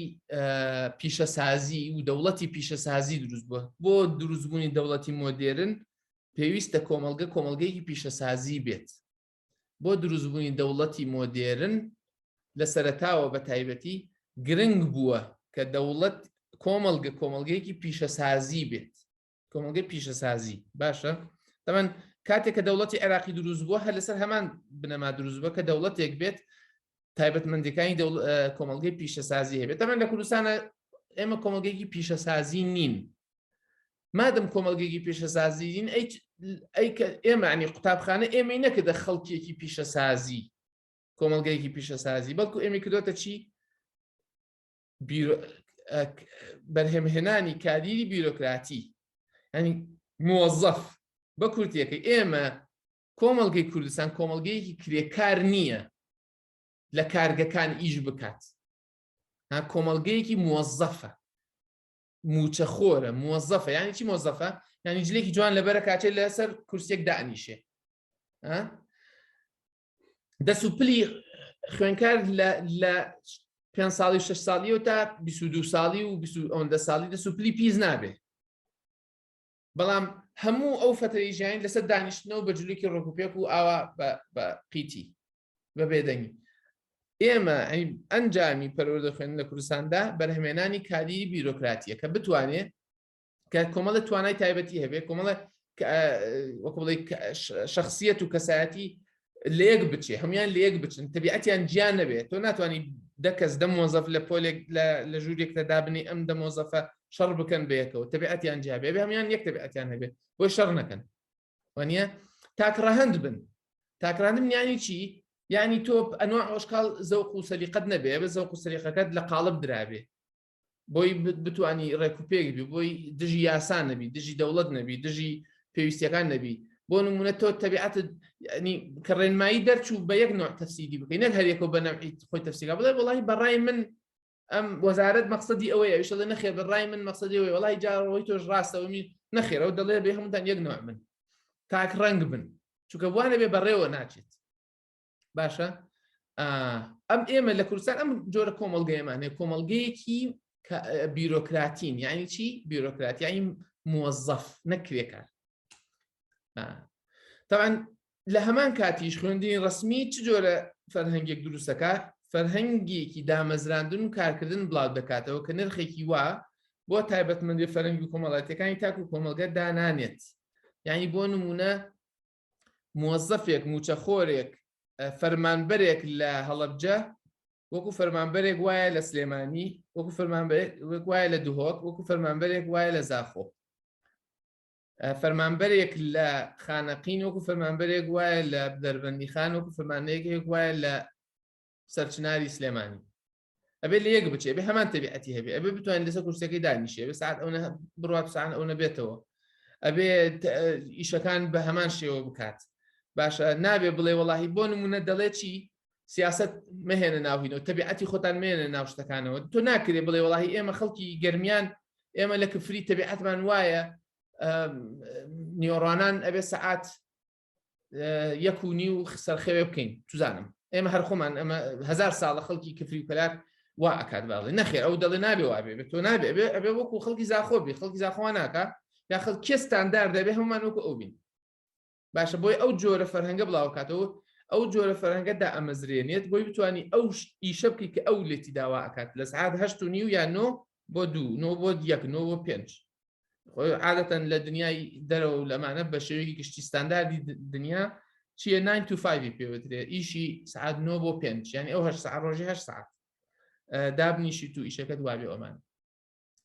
پیشەسازی و دەوڵەتی پیشەسازی دروست بووە بۆ دروستبوونی دەوڵەتی مۆدێرن پێویستە کۆمەڵگە کۆمەڵگەیەکی پیشەسازی بێت بۆ دروستبوونی دەوڵەتی مۆدێرن لە سەرتاوە بە تایبەتی گرنگ بووە کە دەوڵەت کۆمەڵگە کۆمەڵگەیەکی پیشەسازی بێت کۆمەڵگەی پیشەسازی باشە تەمەەن کاتێک کە دەوڵەتی عێراقی دروست بووە هەر لەسەر هەمان بنەما دروست بووە کە دەوڵەتێک بێت تایبەتمەندەکانی کۆمەڵگەی پیشەسازی هەبێت تەمەەن لە کوردستانە ئێمە کۆمەڵگەیەکی پیشەسازی نین مادەم کۆمەلگەیەکی پیشەسازیین ئێمەعنی قوتابخانە ئێمەی نەکردە خەڵکیەکی پیشەسازی کۆمەلگەیەکی پیشەسازی بەڵکو ئێمە کردوتە چی بەرهەمهێنانی کادیری بیرۆکراتی ینی موەزەف بە کورتیەکە ئێمە کۆمەلگەی کوردستان کۆمەلگەیەکی کرێکار نییە لە کارگەکان ئیش بکات کۆمەلگەیەکی موەزەفە موچەخۆرە مۆزەفە یانی چی مۆزەفە یانی جلێکی جوان لەبەرە کاتێ لەسەر کورسێک دانیشێ دەست و پلی خوێنکار لە پێ ساڵی و شش ساڵی و تا 22 ساڵی و ئەوەندە ساڵی دەست و پلی پیس نابێ بەڵام هەموو ئەو فتەی ژیان لەسەر دانیشتنەوە بە جلوکی ڕۆکوپێک و ئاوا بە قیتی بە بێدەنگی ئێمە ئەنجامی پەروەردە خوێندن لە کوردستاندا بەرهەمێنانی کاری بیرۆکراتیە کە بتوانێت کە کۆمەڵە توانای تایبەتی هەبێت کۆمەڵە وەکڵی شخصیت و کەسایەتی لەیەک بچێ هەموان لەیەک بچن تەبیعەتیان جیان نەبێت تۆ ناتوانانی دەکەس دە مۆزەف لە پۆلێک لە ژوورێکتە دابنی ئەم دە مۆزەفە شەڕ بکەن بەیەکەوە تەبیعەتیان جیابێ بێ هەموان یەک تەبیعەتیان هەبێت بۆی شەڕ نەکەن وانە تاکڕەهند بن تاکرانم یانی چی یعنی تۆ ئەنوع ئۆشکال زەوق و سەلیقەت نەبێ بە زەوق و سەریقەکەت لە قالب درابێ بۆی بتانی ڕێکوپێک بی بۆی دژی یاسان نەبی دژی دەوڵەت نەبی دژی پێویستەکان نەبی بۆ نمونە تۆ تەبیعات کە ڕێنمایی دەرچوو بە یەک نوع تەفسیری بکەین نەک هەرێکەوە بە نەوعی خۆی تەفسیرا بڵێ وڵی بەڕای من ئەم وەزارەت مەقصدی ئەوەی ئەوش دەڵێ نەخێ بەڕای من مەقصدی ئەوەی وڵی جاڕەوەی تۆش ڕاستەوە من نەخێرەوە دەڵێ بێ هەمووتان یەک نوع من تاک ڕەنگ بن چونکە بوانە بێ بەڕێوە ناچێت باشە ئەم ئێمە لە کوردستان ئەم جۆرە کۆمەلگەیەمان هەیە کۆمەلگەیەکی بیرۆکراتین یعنی چی بیرۆکراتیایی موەزەف نەکرێکار تاوان لە هەمان کاتیش خوێندنی ڕەسمی چ جۆرە فەرهەنگێک دروست دەکات؟ فەرهەنگێکی دامەزراندن و کارکردن بڵاو دەکاتەوە کە نرخێکی وا بۆ تایبەتمەندی فەرەنگی و کۆمەڵاتیەکانی تاک و کۆمەلگە دانانێت یعنی بۆ نمونە مۆزەفێک موچەخۆرێک فەرمانبەرێک لە هەڵەبجە وەکو فەرمانبەرێک وایە لە سلێمانی وەکو فەرمانبەرێک وایە لە دهۆک وەکو فەرمانبەرێک وایە لە زاخۆ فەرمانبەرێک لە خانەقین وەکو فەرمانبەرێک وایە لە دەربەندی خان وەکو فەرمانەیەکێک وایە لە سەرچناری سلێمانی ئەبێ لە یەک بچێ بێ هەمان تەبیعەتی هەبێ ئەبێ بتوان لەسەر کورسەکەی دانیشێ بە ساعت ئەوە بڕات سان ئەو نەبێتەوە ئەبێ ئیشەکان بە هەمان شێوە بکات باشە نابێ بڵێ وەڵی بۆ نمونە دەڵێ چی سیاست مەهێنە ناوهینەوە تەبیعەتی خۆتان مێنە ناو شتەکانەوە تۆ ناکرێ بڵێ وڵی ئێمە خەڵکی گەرمیان ئێمە لە کفری تەبیعەتمان وایە نیۆڕانان ئەبێ سەعات یەک و نی و سەرخەوێ بکەین توزانم ئێمە هەر خۆمان ئەمە هزار ساڵە خەڵکی کفری و کەلار وا ئەکات باڵێ نەخێر ئەو دەڵێ نابێ وابێ بێت تۆ نابێ بێ ئەبێ وەکو خەڵکی زاخۆ بێ خەڵکی زاخۆوان ناکە یا خەڵ کێستاندار دەبێ هەمومان وەکو ئەو بین باشە بۆی ئەو جۆرە فەرهەنگە بڵاوکاتەوە ئەو جۆرە فەرەنگە دا ئەمەزرێنێت بۆی بتانی ئەو ئیشە بکەی کە ئەو لێتی داوا ئەکات لە سعات هەشت و نیو یان نۆ بۆ دوو نۆ بۆ یەک نۆ بۆ پێنج عادەتەن لە دنیای دەرەوە و لەمانە بە شێوەیەکی گشتی ستانداردی دنیا چیە 9 تو 5 پێوترێ ئیشی سعات نۆ بۆ پێنج یعنی ئەو هەر سعات ڕۆژی هەر سعات دابنیشی تو ئیشەکەت وابێ ئەمان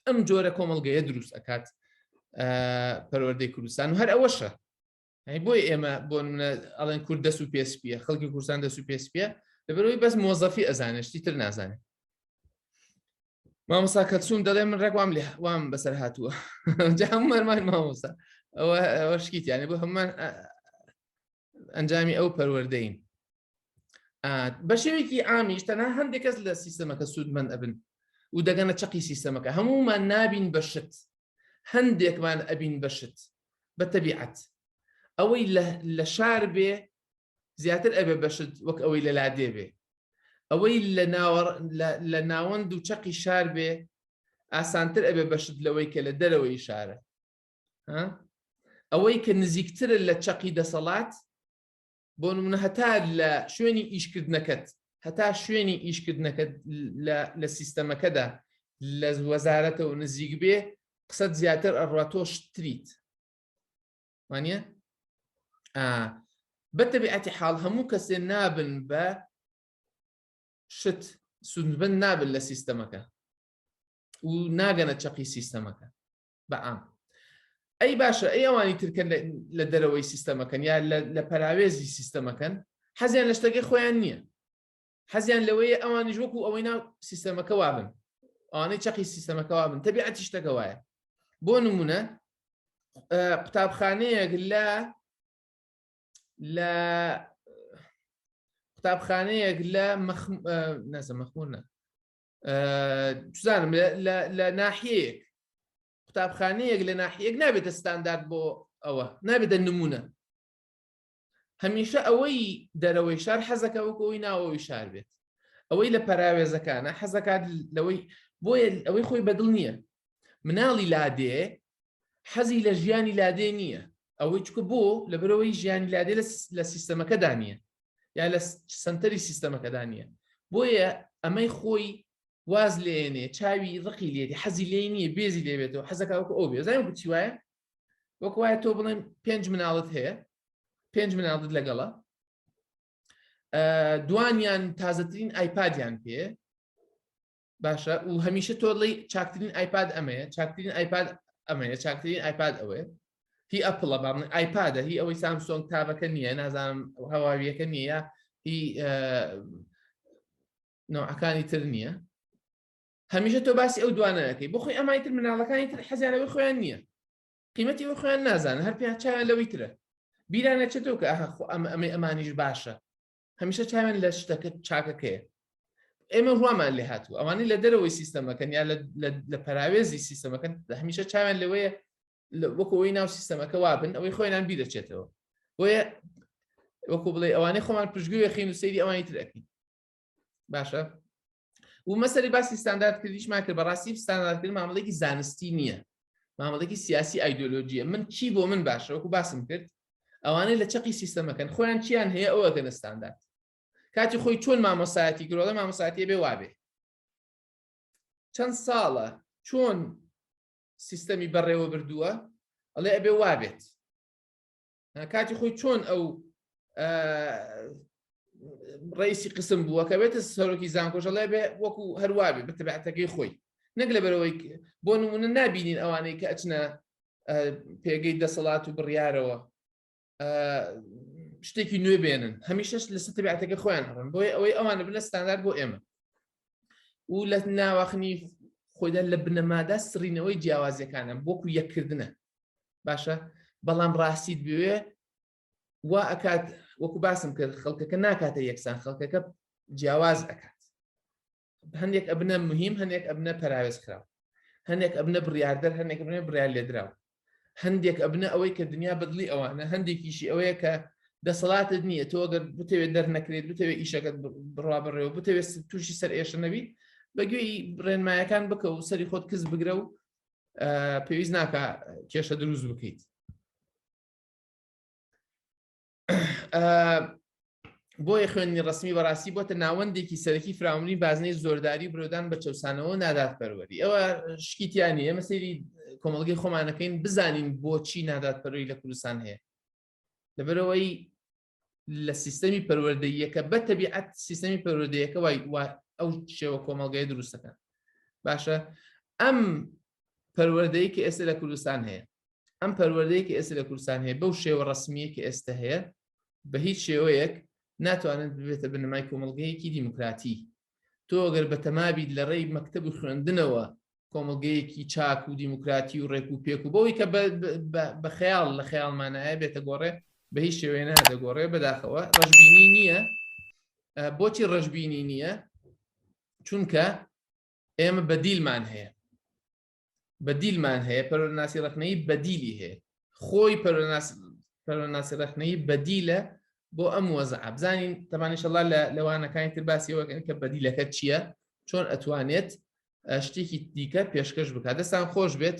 ئەم جۆرە کۆمەلگەیە دروست ئەکات پەروەردەی کوردستان و هەر ئەوەشە بۆی ئێمە بۆ منە ئەڵێن کورد دەست و پێسپیە خەڵکی کوردستان دەست و پێسپیە لەبەرەوەی بەس مۆزەفی ئەزانشتی تر نازانێت مامۆسا کەلسوم دەڵێ من ڕێکوام لێ وام بەسەر هاتووە جامەرمان مامۆسا ئەوە ئەوە شکیتیانە بۆ هەممان ئەنجامی ئەو پەروەەردەین بە شێوێکی ئامیش تەنها هەندێک کەس لە سیستەمەکە سوودمەند ئەبن و دەگەنە چەقی سیستەمەکە هەمومان نابین بە شت هەندێکمان ئەبین بە شت بە تەبیعەت ئەوەی لە شار بێ زیاتر ئەبێ بە شت وەک ئەوەی لە لادێ بێ ئەوەی لە ناوەند و چەقی شار بێ ئاسانتر ئەبێ بە شت لەوەی کە لە دەرەوەی شارە ئەوەی کە نزیکترە لە چەقی دەسەڵات بۆ نمونە هەتا لە شوێنی ئیشکردنەکەت هەتا شوێنی ئیشکردنەکەت لە سیستەمەکەدا لە وەزارەتەوە نزیک بێ قسەت زیاتر ئەڕوا تۆش تریت وانە بەتەبیعەتی حاڵ هەموو کەسێ نابن بە شت سوندبن نابن لە سیستەمەکە و ناگەنە چەقی سیستەمەکە بەعام ئەی باشە ئەی ئەوانی ترکە لە دەرەوەی سیستەمەکەن یا لە پەراوێزی سیستەمەکەن حەزیان لە شتەکەی خۆیان نییە حەزیان لەوەیە ئەوانیش وەکو ئەوەی ناو سیستەمەکە وابن ئەوانەی چەقی سیستەمەکە وابن تەبیعەتی شتەکە وایە بۆ نمونە قوتابخانەیەک لە لە قوتابخانەیەک لە نەزە مەخمونە بزانم لە ناحیەیەک قوتابخانەیەک لە ناحیەک نابێتە ستاندارد بۆ ئەوە نابێتە نمونە هەمیشە ئەوەی دەرەوەی شار حەزەکە وەکەوەی ناوەوەی شار بێت ئەوەی لە پەراوێزەکانە حەزەکات لەوەی بۆیە ئەوەی خۆی بەدڵ نییە مناڵی لادێ حەزی لە ژیانی لادێ نییە ئەوەی چکە بۆ لە برەوەی ژیانی لادێ لە سیستەمەکەدا نییە یا لە سنتەری سیستەمەکەدا نییە بۆیە ئەمەی خۆی واز لێنێ چاوی ڕقی لێدی حەزی لێ نییە بێزی لێبێتەوە حەزەکە وەکو ئەو بێزای وتی وایە وەکو وایە تۆ بڵێن پێنج مناڵت هەیە پێنج مناڵت لەگەڵە دوانیان تازەترین ئایپادیان پێ باشە و هەمیشە تۆ ڵی چاکترین ئایپاد ئەمەیە چاکترین ئایپاد ئەمەیە چاکترین ئایپاد ئەوەیە هی ئەپڵە بام ئایپادە هی ئەوەی سامسۆنگ تابەکە نییە نازانم هەواویەکە نییە هی نەوەکانی تر نییە هەمیشە تۆ باسی ئەو دوانەکەی بۆ خۆی ئەمای تر مناڵەکانی تر حەزیانەوەی خۆیان نییە قیمەتی ئەو خۆیان نازانە هەر پێیان چاویان لەوەی ترە بیرانە چێتەوە کە ئاخۆ ئەم ئەمەی ئەمانیش باشە هەمیشە چاوێن لە شتەکە چاکەکەیە ئێمە ڕوامان لێ هاتوو ئەوانەی لە دەرەوەی سیستەمەکەن یا لە پەراوێزی سیستەمەکەن هەمیشە چاوێن لەوەیە وەکەوەی ناو سیستەمەکە وابن ئەوەی خۆیان بیرەچێتەوە بۆیە وەکو بڵێ ئەوانەی خۆمان پشگوێ خین و سەیری ئەوانی ترەکەین باشە و مەسەری باسی ستاندارد کردیشمان کرد بەڕاستی ستانداردکرد مامەڵێکی زانستی نییە مامەڵێکی سیاسی ئایدۆلۆژیە من چی بۆ من باشە وەکو باسم کرد ئەوانەی لە چەقی سیستەمەکەن خۆیان چیان هەیە ئەوە گەنە ستاندارد کاتی خۆی چۆن مامۆسایەتی گرۆڵە مامۆساتی بێ وابێ چەند ساڵە چۆن سیستەمی بەڕێوە بردووە ئەڵێ ئەبێ وابێت کاتی خۆی چۆن ئەو ڕیسی قسم بووە کە بێتە سەرۆکی زانکۆژەڵێ بێ وەکو هەروابێ بتبعاتەکەی خۆی نەک لە بەرەوەی بۆ نمونە نبینین ئەوانەی کە ئەچنە پێگەی دەسەڵات و بڕیارەوە شتێکی نوێ بێنن هەمیشەش لە ستبعاتەکە خۆیان هەڕن بۆی ئەوەی ئەوانە بنە ستاندار بۆ ئێمە و لە ناواخنی خۆیدا لە بنەمادا سڕینەوەی جیاوازیەکانە بۆکو یەکردنە باشە بەڵام ڕاستیت بوێ وا ئەکات وەکو باسم کرد خەڵکەکە ناکاتە یەکسان خەڵکەکە جیاواز ئەکات هەندێک ئەبنە مهم هەندێک ئەبنە پراوێز خراو هەندێک ئەبنە بڕاردەر هەندێک بنە برا لێدراو هەندێک ئەبنە ئەوەی کە دنیا بەدڵی ئەوانە هەندێکیشی ئەوەیە کە دەسەڵاتت نییە تۆ گەر بتەوێت دەرنەکرێت بتەوێت ئیشەکەت بڕوا بڕێەوە بتەوێت تووشی سەر ئێشە نەبی بەگوێی ڕێنمایەکان بکە و سەری خۆت کەس بگرە و پێویست ناکە کێشە دروست بکەیت بۆیە خوێندنی ڕسمی بەڕاستی بۆتە ناوەندێکی سەرەکی فراونی بازنەی زۆرداری برۆدان بە چەسانەوە نادات پەروەری ئەوە شکیتیانی ئێمە سری کۆمەلگەی خۆمانەکەین بزانین بۆچی نادات پەروی لە کوردستان هەیە لەبەرەوەی لە سیستەمی پەروەردەیەکە بە تەبیعەت سیستەمی پەروەردەیەکە وای ئەو شێوە کۆمەلگای دروستەکە باشە ئەم پەروەردەی کە ئێستا لە کوردستان هەیە ئەم پەروەردەیە کە ئێستا لە کوردستان هەیە بەو شێوە ڕسمیە کە ئێستا هەیە بە هیچ شێوەیەک ناتوانن ببێتە بنەمای کۆمەلگەیەکی دیموکراتی تۆ گەر بە تەمابیت لە ڕێی مەکتب و خوێندنەوە کۆمەلگەیەکی چاک و دیموکراتی و ڕێک و پێک و بەوەی کە بە خەیاڵ لە خەیاڵمانایە بێتە گۆڕێ بە هیچ شێوێ نادەگۆڕێ بەداخەوە ڕژبینی نییە بۆچی ڕژبینی نییە چونکە ئێمە بەدیلمان هەیە بەدیلمان هەیە پەرۆناسی ڕخنەی بەدیلی هەیە خۆی پەرۆناسی ڕخنەی بەدیلە بۆ ئەم وەزە ئابزانین تەمانیشەڵا لە لەوانەکانی تر باسیەوەکەن کە بەدیلەکە چییە چۆن ئەتوانێت شتێکی دیکە پێشکەش بکات دەستان خۆش بێت